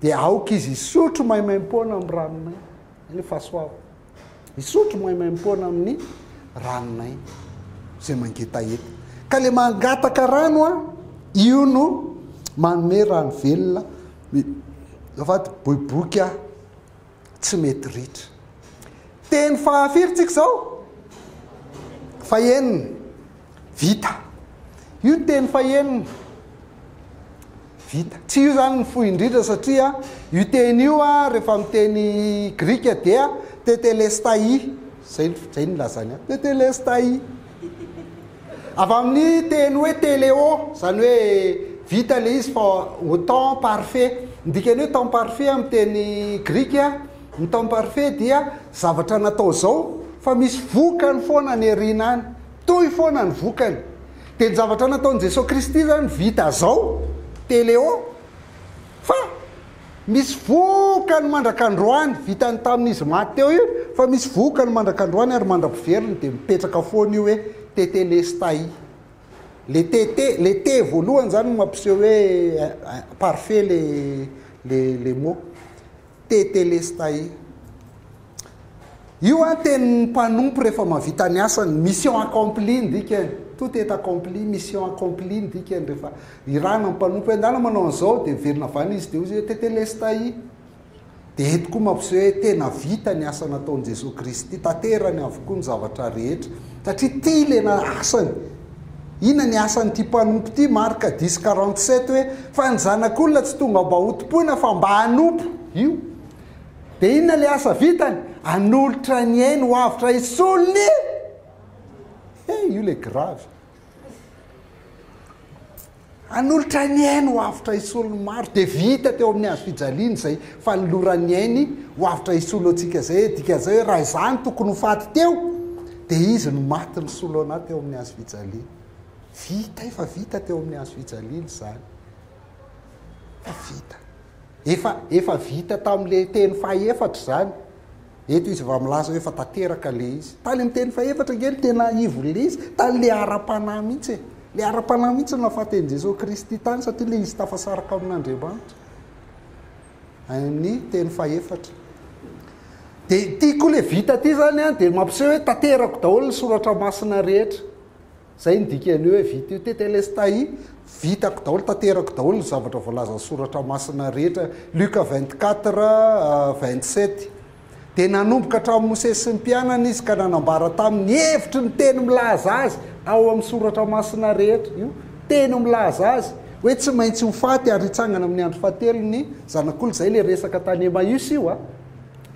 Speaker 1: dia aoka izy hisotro maimaimpoana amin'ny rano maina. Izay ilay fahasoavana. Misotro maimaimpoana amin'ny ranonay izay mangetaheta. Ka ilay mangataka rano, io no manome rano velona, avady boiboika tsy mety ritra. Teny fahafiry tsika izao? Fahenina. Vita. Io teny fahenina. Vita. Tsy io izany no fohy indrindra satria io teny io rehefa amin'ny teny grika dia tetelestai, izay izay no nilazany ahy, tetelestai. Avy amin'ny teny hoe teleo, izany hoe vita ilay izy fa au temps parfait. Ny dikan'ny hoe temps parfait amin'ny teny grika, ny temps parfait dia zavatra natao izao fa misy vokany foana any aoriana any. Toy foana ny vokany. Dia ny zavatra nataon'i Jesoa Kristy izany vita zao, Téléo, fa misy vokany mandrak'androany, vitany tamin'izy maty teo io, fa misy vokany mandrak'androany ary mandra-piveriny dia mipetraka foana io hoe Tétélestai. Le Tété, le Té voalohany izany no mampiseho hoe parfait le, le, le mot. Tetelestai. Io an tenin'ny mpanompo rehefa mahavita ny asany, mission accomplie ny dikany, tout est accompli, mission accomplie ny dikany rehefa irana ny mpanompo hoe ndana manao an'izao dia miverina avy any izy dia hoy izy hoe Tetelestai. Dia eto koa mampiseho hoe tena vita ny asa nataon'i Jesoa Kristy, tanterany avokoa ny zavatra rehetra satria tia ilay asany. Inona ny asan'ity mpanompo ity, Marc dix quarante sept, hoe fa ny zanak'olona tsy tonga mba hotompoina fa mba hanompo io. Dia inona ilay asa vitany? Hanolotra ny ainy ho avotra hisolo ny He, io ilay grave. Hanolotra ny ainy ho avotra hisolo ny maro, dia vita teo amin'ny hazo fijaliany izay fanolorany ny ainy ho avotra hisolo antsika izay e, dikan'izay hoe raha izaho no tokony ho faty teo dia izy no maty nisolo anah teo amin'ny hazo fijaliany. Vita, efa vita teo amin'ny hazo fijaliany izany. Efa vita. Efa, efa vita tamin'ilay teny fahaefatra izany. Eto izy vao milaza hoe efa tanteraka ilay izy. Tany amin'ny teny fahefatra ange no tena ivo ilay izy, tany ilay ara-panahy mihitsy e. Ilay ara-panahy mihitsy no nahafaten'i Jesoa Kristy tany satria ilay izy tafasaraka amin'Andriamanitra. Any amin'ny teny fahefatra. Dia ity koa ilay vita ity izany dia mampiseho hoe tanterako daholo ny soratra masina rehetra. Izay no dikan'ny hoe vita io Tetelestai, vitako daholo, tanterako daholo ny zavatra voalazan'ny soratra masina rehetra, Luka vingt quatre, vingt sept. Dia nanomboka hatramin'i Mosesy sy ny mpianany izy ka nanambara taminy ny hevitry ny teny milaza azy ao amin'ny soratra masina rehetra. Io teny milaza azy hoe tsy maintsy ho faty ary hitsangana amin'ny andro fahatelo ny zanak'olona. Izay ilay resaka tany Emmaüs io a.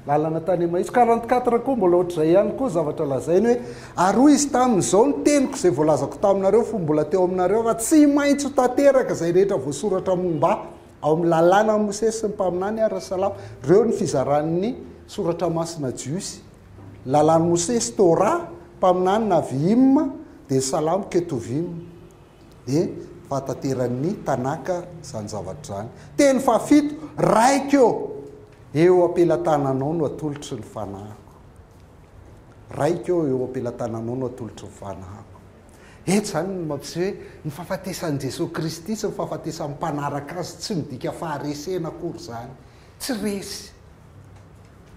Speaker 1: Lalana tany Emmaüs. Quarante quatre koa mbola ohatr'izay ihany koa zavatra lazainy hoe, ary hoy Izy taminy, izao ny teniko izay voalazako taminareo fony mbola teo aminareo, fa tsy maintsy ho tanteraka izay rehetra voasoratra momba Ahy ao amin'ny Lalànan'i Mosesy sy ny Mpaminany ara-salamo. Ireo ny fizaran'ny Soratra Masina Jiosy. Lalàn'i Mosesy, Torah, Mpaminany, Navi'im, dia ny Salamo, Ketuvim. Dia fahatanteran'ny Tanaka izany zavatra izany. Teny fahafito, Raiko ô! Eo am-pelatananao no atolotry ny fanahiko. Raiko ô, eo am-pelatananao no atolotry ny fanahiko. Eto izany ny mampiseho hoe ny fahafatesan'i Jesoa Kristy sy ny fahafatesan'ny mpanaraka Azy tsy midika faharesena akory izany. Tsy resy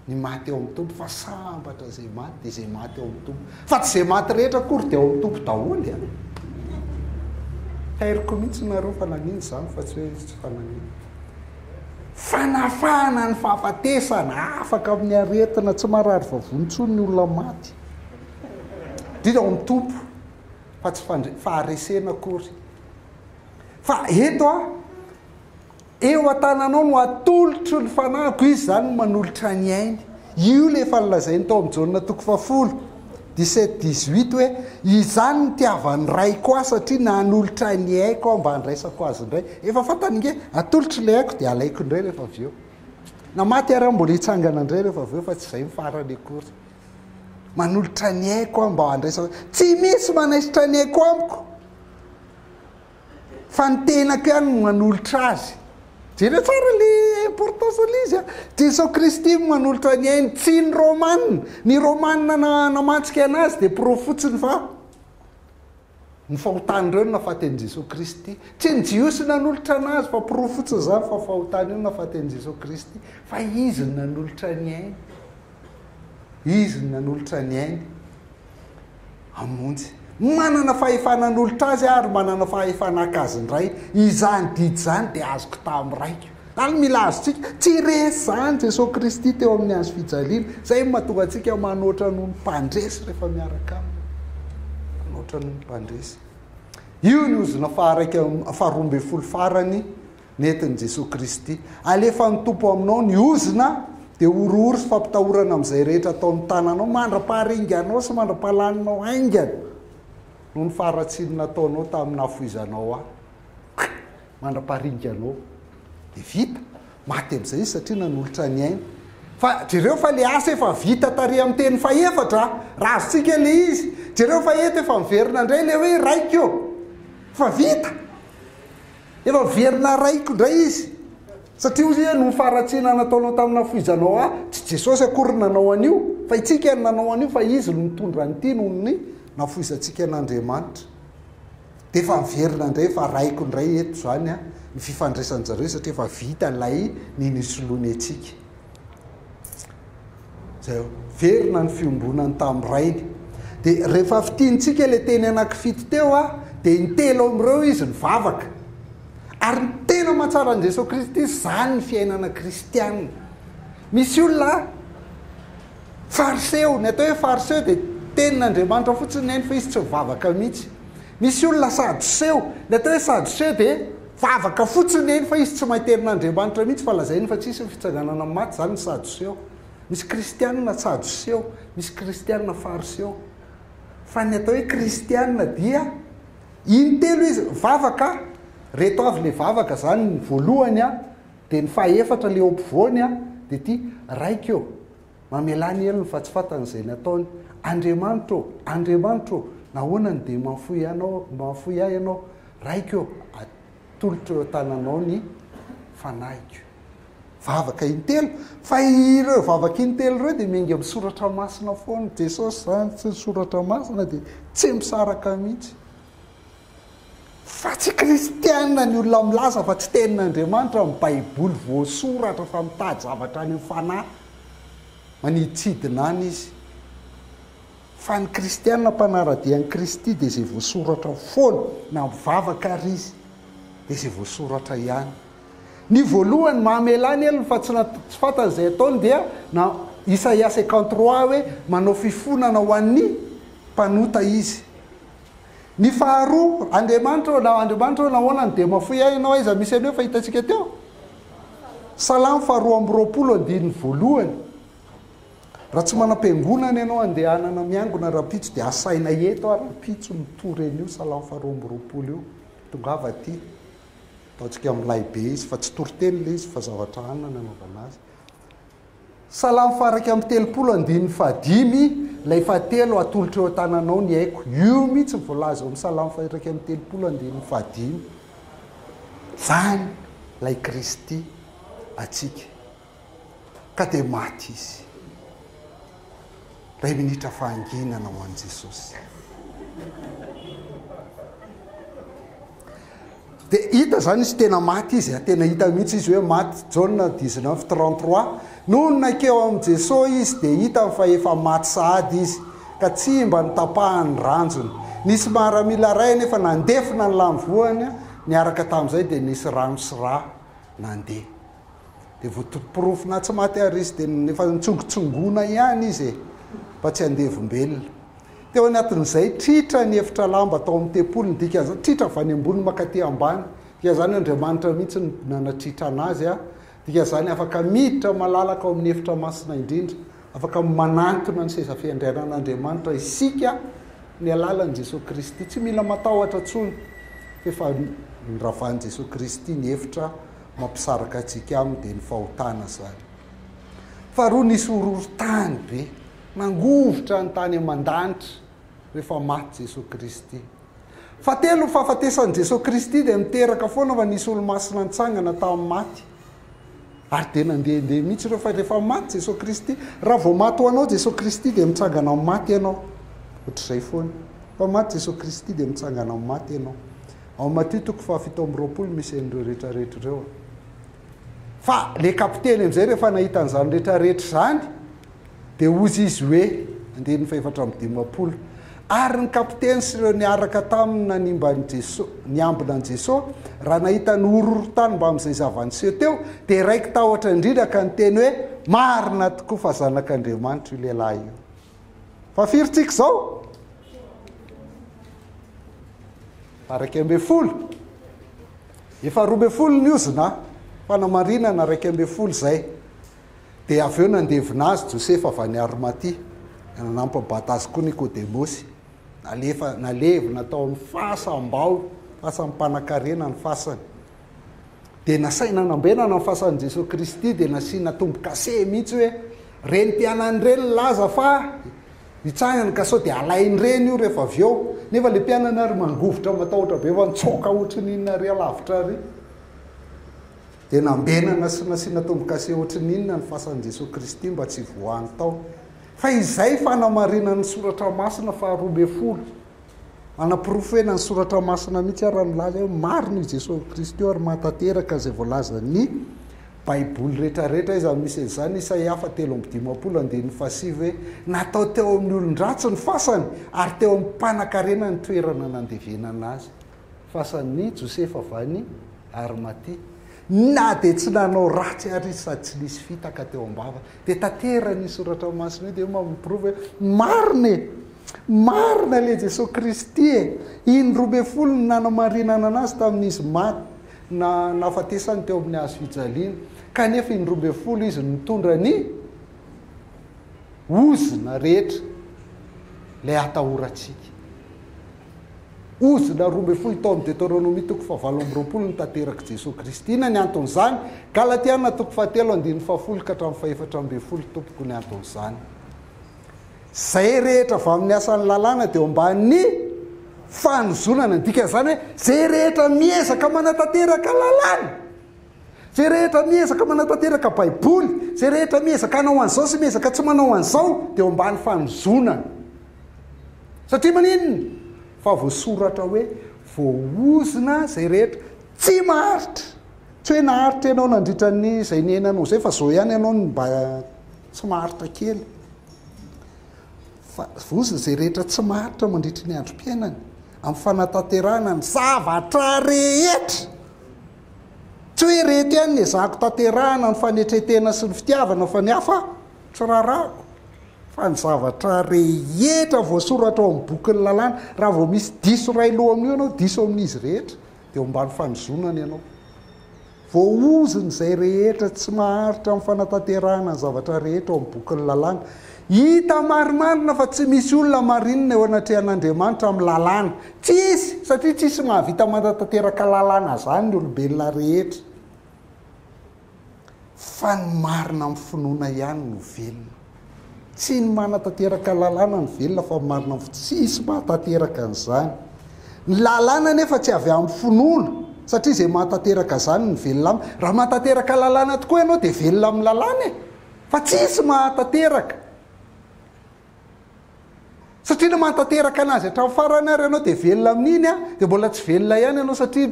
Speaker 1: ny maty ao amin'ny Tompo fa sambatra izay maty dia izay maty ao amin'ny Tompo. Fa tsy izay maty rehetra akory dia ao amin'ny Tompo daholo a. Tairiko mihitsy nareo fa nagnino izany fa tsy hoe tsy fanagnino. Fanafahana ny fahafatesana, afaka amin'ny aretina, tsy marary vavony intsony ny olona maty. Dia ao amin'ny Tompo fa tsy faharesena akory. Fa eto a, Eo an-tananao no atolotro ny fanahiko, izy izany no manolotra ny ainy. Io ilay efa nolazainy tao amin'ny Jaona toko fahafolo, dix-sept, dix-huit hoe, Izany no nitiavan'ny Raiko ahy, satria nanolotra ny aiko aho mba handraisako azy indray. Efa fantany ange, atolotro ilay aiko dia halaiko indray rehefa avy eo. Na maty ary aho mbola hitsangana indray rehefa avy eo fa tsy izay ny farany akory. Manolotra ny aiko aho mba handraisako. Tsy misy manaisotra ny aiko amiko. Fa ny tenako ihany no manolotra azy. Jereo tsara le importance an'le izy a! Jeso Kristy no manolotra ny ainy, tsy ny Romana! Ny Romana namantsika anazy dia porofo fotsiny fa ny fahotan'ireo no nafaty an'i Jeso Kristy. Tsy ny Jiosy nanolotra anazy fa porofo fotsiny izany fa fahotan'io no nafaty an'i Jeso Kristy. Fa izy no nanolotra ny ainy. Izy no nanolotra ny ainy. hamonjy. Manana fahefana hanolotra azy aho ary manana fahefana haka azy indray. Izany didy izany dia azoko tamin'ny Raiko. Ary mila azontsika. Tsy resy izany Jesoa Kristy teo amin'ny hazo fijaliana. Izay no mahatonga antsika manoatra noho ny mpandresy rehefa miaraka Aminy. Manoatra noho ny mpandresy. Io ny ozona faha-roa ambin'ny folo farany. Nentin'i Jesoa Kristy, Alefan'ny Tompo aminao ny ozona, dia horohoro sy fampitahorana amin'izay rehetra ataon'ny tananao mandra-paharinganao sy mandra-pahalaninao haingana, noho ny faharatsiany nataonao tamin'ny nahafoizanao Ahy. Pkk! Mandra-paharinganao. Dia vita. Maty amin'izay izy satria nanolotra ny ainy. Fa jereo fa ilay asa efa vita tary amin'ny teny fahefatra, raha azontsika ilay izy. Jereo fa eto efa miverina indray ilay hoe Raiko ô! Efa vita! Efa very narahiko indray izy. Satria hoy izy hoe, noho ny faharatsiana nataonao tamin'ny nafoizanao ahy, tsy Jesosy akory no nanao an'io, fa itsika no nanao an'io, fa Izy no nitondra an'ity noho ny nafoizantsika an'Andriamanitra. Dia efa niverina indray, efa arahiko indray eto izany ny fifandraisan-dry zareo, satria efa vita ilay ny nisoloany antsika. zay o verina ny fiombonany tamin'ny rainy dia rehefa fitintsika le teny anakifito teo a dia ny telo amin'ireo izy nivavaka ary ny tena mahatsara an'i Jesoa Kristy izany ny fiainana kristianina misy olona fariseo ny atao hoe fariseo dia tenin'Andriamanitra fotsiny neny fa izy tsy mivavaka mihitsy Misy olona sadoseo, ny atao hoe sadoseo dia vavaka fotsiny eny fa izy tsy maiterin'ny Andriamanitra mihitsy fa lazainy fa tsy hisy ny fitsanganana amin'ny maty, izany ny sadoseo. Misy kristianina tsadoseo, misy kristianina fariseo. Fa ny atao hoe kristianina dia intelo izy, vavaka, reto avy ilay vavaka, izany ny voalohany an, dia ny fahefatra ilay eo ampovoany an, dia ity, Raiko ô, Mamelà ny helony fa tsy fantany izay nataony. Andriamanitra ô! Andriamanitra ô! Nahoana no dia mahafoy anao, mahafoy ahy ianao? Raiko ô! Atolotro eo an-tananao ny fanahiko. Vavaka intelo. Fa ireo vavaka intelo ireo dia miainga amin'ny soratra masina foana. Jesosy izany sy ny soratra masina dia tsy misaraka mihitsy. Fa tsy kristiana ny olona milaza fa tsy tenin'Andriamanitra ny baiboly voasoratra fa mitady zavatra any amin'ny fanahy maniditsidina any izy. Fa ny kristiana mpanara-dia an'i Kristy dia izay voasoratra foana na mivavaka ary izy dia izay voasoratra ihany. Ny voalohany mamelà ny helony fa tsy na tsy fantany izay ataony dia na Isaia cinquante trois hoe manao fifonana ho an'ny mpanota izy. Ny faharoa, Andriamanitra ô na Andriamanitra ô nahoana ny dia mafoy ahy ianao aiza misy an'io efa hitantsika teo? Salamo faharoa amby roapolo andininy voalohany, Raha tsy manam-piangonana ianao andehanana miangona rahampitso dia asaina eto ary rahampitso mitory an'io salamo faharoa amby roapolo io, tongava aty, ataontsika milay be izy fa tsy toriteny ilay izy fa zavatra anona no anaovana azy. Salamo faha iraika amby telopolo andininy faha dimy, Ilay fahatelo atolotro eo an-tananao ny aiko. Io mihitsy no voalaza eo amin'ny Salamo faha iraika amby telopolo andininy faha dimy. Izany ilay Kristy antsika. Ka dia maty izy. Iray minitra fahanginana ho an'i Jesosy. Dia hita izany izy tena maty izy, tena hita mihitsy izy hoe maty, Jaona dix neuf trente trois, nony nankeo amin'i Jesoa izy dia hitany fa efa maty sahady izy, ka tsy mba notapahany ranjony. Nisy maramila iray anefa nandefona ny lany voany, niaraka tamin'izay dia nisy rano sy ra nandeha. Dia vao to- porofonà tsy maty àry izy, dia efa nitsongotsongona ihany izy e, fa tsy andevom-belona. Teo anatin'izay, tritra ny efitra lamba tao amin'ny tempoliny, dika zany, tritra avy any ambony mankaty ambany, dika zany, Andriamanitra mihitsy no nanatritra anazy, a, dika zany, afaka miditra malalaka ao amin'ny efitra masina indrindra, afaka manantona ny seza fiandrianan'Andriamanitra isika amin'ny alalan'i Jesoa Kristy, tsy mila matahotra intsony fa efa noravan'i Jesoa Kristy ny efitra mampisaraka antsika aminy, dia ny fahotana zany. Faharoa, nisy horohorontany be. Nangovitra ny tany aman-danitra rehefa maty Jesoa Kristy. Fahatelo ny fahafatesan'i Jesoa Kristy dia niteraka foana fa nisy olomasina nitsangana tamin'ny maty. Ary dia nandehandeha mihitsy ireo fa rehefa maty Jesoa Kristy, raha vao maty ho anao Jesoa Kristy dia mitsangana amin'ny maty ianao. Ohatr'izay foana. Fa maty Jesoa Kristy dia mitsangana amin'ny maty ianao. Ao Matio toko fahafito amby roapolo misy an'ireo rehetrarehetra ireo. Fa ilay kapiteny amin'izay rehefa nahita an'izany rehetrarehetra izany, Dia hozy izy hoe, Andininy fahefatra amby dimampolo, Ary ny kapiteny sy ireo niaraka taminy nanimba an'i Jeso, niambina an'i Jeso, raha nahita ny horohorontany mbamin'izay zava-niseho teo, dia raiki-tahotra indrindra ka niteny hoe, Marina tokoa fa Zanak'Andriamanitra io lehilahy io. Fa firy tsika izao? Fa raika ambin'ny folo. Efa roa ambin'ny folo ny ozona, fanamarinana raika ambin'ny folo izay. Dia avy eo nandevina azy Josefa avy any Arimatia, dia nanampam-bata azy koa Nikodemosy. Nalefa, nalevina tao amin'ny fasam-bao, fasam-panankarena ny fasany. Dia nasaina nambenana ny fasan'i Jesoa Kristy, dia nasiana tombo-kase mihitsy hoe, ireny mpianany ireny nilaza fa hitsangana ka sao dia halain'ireny io rehefa avy eo. Nefa ilay mpianany ary mangovitra matahotra be fa nitsoaka ohatry ny inona ary alavitra ary. Dia nambenana sy nasiana tombokase ohatry ny inona ny fasan'i Jesoa Kristy mba tsy voany tao? Fa izay fanamarinan'ny soratra masina faharoa ambin'ny folo. Manaporofena ny soratra masina mihitsy aho raha milaza hoe marina i Jesoa Kristy ary mahatanteraka izay voalazan'ny Baiboly rehetrarehetra aiza no misy an'izany Isaia fa telo amby dimampolo andininy fahasivy hoe natao teo amin'ny olon-dratsy ny fasany ary teo amin'ny mpanankarena ny toerana nandevenana azy. Fasan'ny Josefa va ny Arimatia? Na dia tsy nanao ratsy àry izy sady tsy nisy fitaka teo am-bava, dia tanteran'io soratra masina io, dia io mampiporofo hoe marina e! Marina ilay Jesoa Kristy e! Indroa ambin'ny folo ny nanamarinana an'Azy tamin'izy maty, na, nahafatesany teo amin'ny hazo fijaliana, kanefa indroa ambin'ny folo Izy nitondra ny ozona rehetra, ilay atahorantsika. Ozona roa ambin'ny folo tao amin'ny Deteronomia toko fahavalo amby roapolo ny tanterak'i Jesoa Kristy. Inona ny anton'izany? Galatiana toko fahatelo andininy fahafolo ka hatramin'ny fahefatra ambin'ny folo tompoko ny anton'izany. Izay rehetra avy amin'ny asan'ny lalàna dia eo ambanin'ny fanozonana. Ny dikan'izany hoe izay rehetra miezaka manatanteraka lalàna. Izay rehetra miezaka manatanteraka Baiboly, izay rehetra miezaka hanao an'izao sy miezaka tsy manao an'izao, dia eo ambany fanozonana. Satria maninona? Fa voasoratra hoe, Voaozona izay rehetra tsy maharitra. Tsy hoe naharitra ianao nandritra an'izay niainanao izay, fa izao ihany ianao no mba tsy maharitra kely. Fa voaozona izay rehetra tsy maharitra mandritra ny androm-piainany, amin'ny fanatanterahana ny zavatra rehetra. Tsy hoe ireto ihany no ezahako tanterahana ny fanetren-tena sy ny fitiavana fa ny hafa tsy rarahako fa ny zavatra rehetra voasoratra ao amin'ny bokin'ny lalàna. Raha vao misy diso iray lo amin'io ianao, diso amin'izy rehetra, dia eo ambany fanozonana ianao. Voaozon'izay rehetra tsy maharitra amin'ny fanatanterahana ny zavatra rehetra ao amin'ny bokin'ny lalàna. Hita marimarina fa tsy misy olona marinina eo anatrehan'Andriamanitra amin'ny lalàna. Tsisy, satria tsisy mahavita manatanteraka lalàna izany ny olombelona rehetra. Fa ny marina amin'ny finoana ihany no velona. Tsy ny manatanteraka lalàna no velona fa ny marina amin'ny finoana. Tsisy mahatanteraka an'izany. Ny lalàna anefa tsy avy amin'ny finoana, satria izay mahatanteraka izany no velona aminy. Raha mahatanteraka lalàna tokoa ianao dia velona amin'ny lalàna e. Fa tsisy mahatanteraka. Satria ilay mahatanteraka anazy hatramin'ny farany ary ianao dia velona amin'iny an, dia mbola tsy velona ihany ianao satria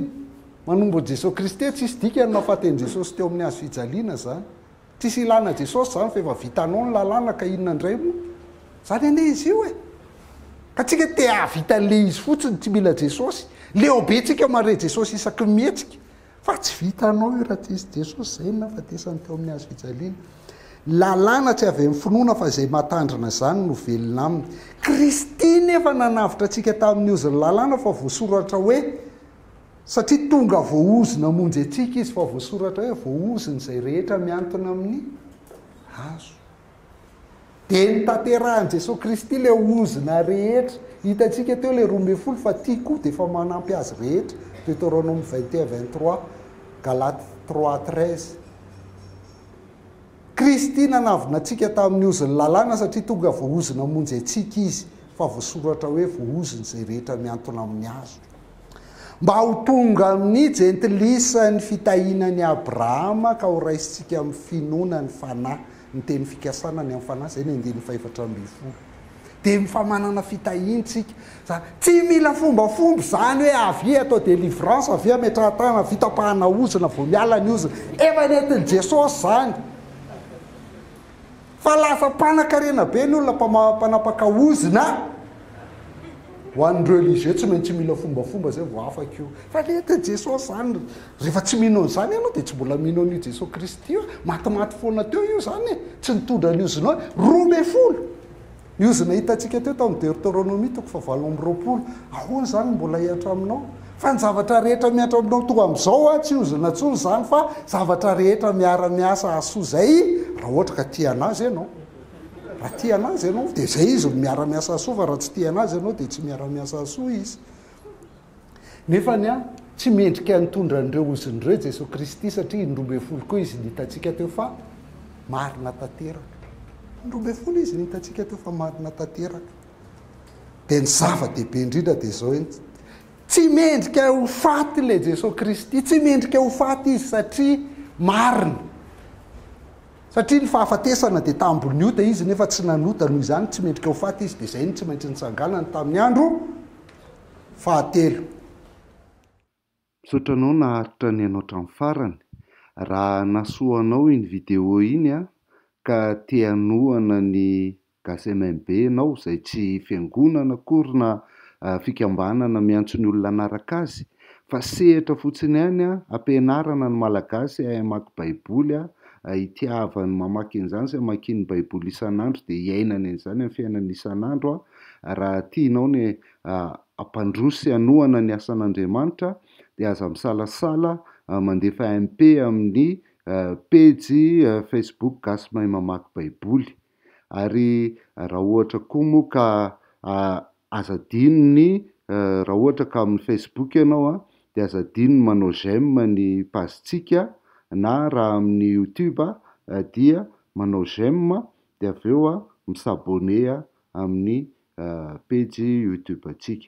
Speaker 1: manombo an'i Jesoa Kristy, tsisy dikany ny nahafaten'i Jesosy teo amin'ny hazo fijaliana izany. Tsisy ilana Jesosy izany fa efa vitanao ny lalàna ka inona indray moa. Izany anie izy io e. Ka tsika te hahavita an'ilay izy fotsiny, tsy mila Jesosy. Leo be tsika mahare Jesosy isaky ny mihetsika. Fa tsy vitanao io raha tsy nisy Jesosy izay no nahafatesany teo amin'ny hazo fijaliana. Ny lalàna tsy avy amin'ny finoana fa izay mahatandrina izany no velona aminy. Kristy nefa nanavotra antsika tamin'ny ozon'ny lalàna fa voasoratra hoe, satria tonga voaozona hamonjy antsika izy fa voasoratra hoe voaozona izay rehetra mihantona amin'ny hazo. Dia nitanterahan'i Jesoa Kristy ilay onzona rehetra. Hitantsika teo ilay roa ambin'ny folo fa ity koa dia efa manampy azy rehetra. Deuteronome 21, 23, Galates 3, 13. Kristy nanavona antsika tamin'ny ozon'ny lalàna satria tonga voahozona hamonjy antsika izy, fa voasoratra hoe voahozona izay rehetra mihantona amin'ny hazo. Mba ho tonga amin'ny jentilisa ny fitahiana an'i Abrahama ka ho raisintsika amin'ny finoana ny fanahy. ny teny fikasana ny amin'ny fanahy, izay ny andininy fahefatra ambin'ny folo. Dia ny famanana fitahiantsika, izany tsy mila fombafomba izany hoe avia atao délivrance, avia ametrahan-tanana, avia tapahana ozona vao miala ny ozona, efa nentin'i Jesosy izany. Fa lasa mpanakarena be ny olona mpama- mpanapaka ozona, ho an'ny religieux tsy maintsy mila fombafomba izay vao afaka io, fa nentin'i Jesosy izany, Rehefa tsy mino an'izany ianao dia tsy mbola mino an'io Jesoa Kristy io e, matimaty foana teo io izany e, tsy nitondra ny ozinao e, roa ambin'ny folo ny ozona hitantsika teo tamin'ny Deoteronomia toko fahavalo amby roapolo, ahoana izany no mbola hihatra aminao? Fa ny zavatra rehetra mihatra aminao toa amin'izao a, tsy ozona intsony izany fa zavatra rehetra miara-miasa hahasoa izay, raha ohatra ka tia an'Azy ianao. Raha tia an'Azy ianao dia izay Izy no miara-miasa hahasoa fa raha tsy tia an'Azy ianao dia tsy miara-miasa hahasoa Izy. Nefa ny ahy, tsy mendrika nitondra an'ireo ozony ireo i Jesoa Kristy satria indroa ambin'ny folo koa Izy no hitantsika teo fa marina tanteraka. Indroa ambin'ny folo Izy no hitantsika teo fa marina tanteraka. Dia ny zava-dehibe indrindra dia izao eny, tsy mendrika ho faty ilay Jesoa Kristy, tsy mendrika ho faty Izy satria marina. Satria ny fahafatesana dia tambon'ny ota Izy nefa tsy nanota, noho izany tsy mendrika ho faty Izy, dia izay no tsy maintsy nitsanganany tamin'ny andro. fahatelo.
Speaker 2: Misaotra anao naharitra ny anao hatramin'ny farany. Raha nahasoa anao iny video iny ka te hanohana ny Gasy MMB ianao izay tsy fiangonana akory na fikambanana miantso ny olona hanaraka azy fa sehatra fotsiny ihany hampianarana ny Malagasy hahay hamaky Baiboly hitiavany mamaky an'izany sy hamakiany Baiboly isan'andro dia hiainany an'izany amin'ny fiainany isan'andro raha tianao ny hampandroso sy hanohana ny asan'Andriamanitra dia aza misalasala mandefa MP amin'ny pejy Facebook Gasy Mahay Mamaky Baiboly. Ary raha ohatra koa moa ka aza adino ny raha ohatra ka amin'ny Facebook ianao dia aza adino ny manao j'aime ny page-tsika na raha amin'ny YouTube dia manao j'aime de avy eo mi s'abonner amin'ny page youtube antsika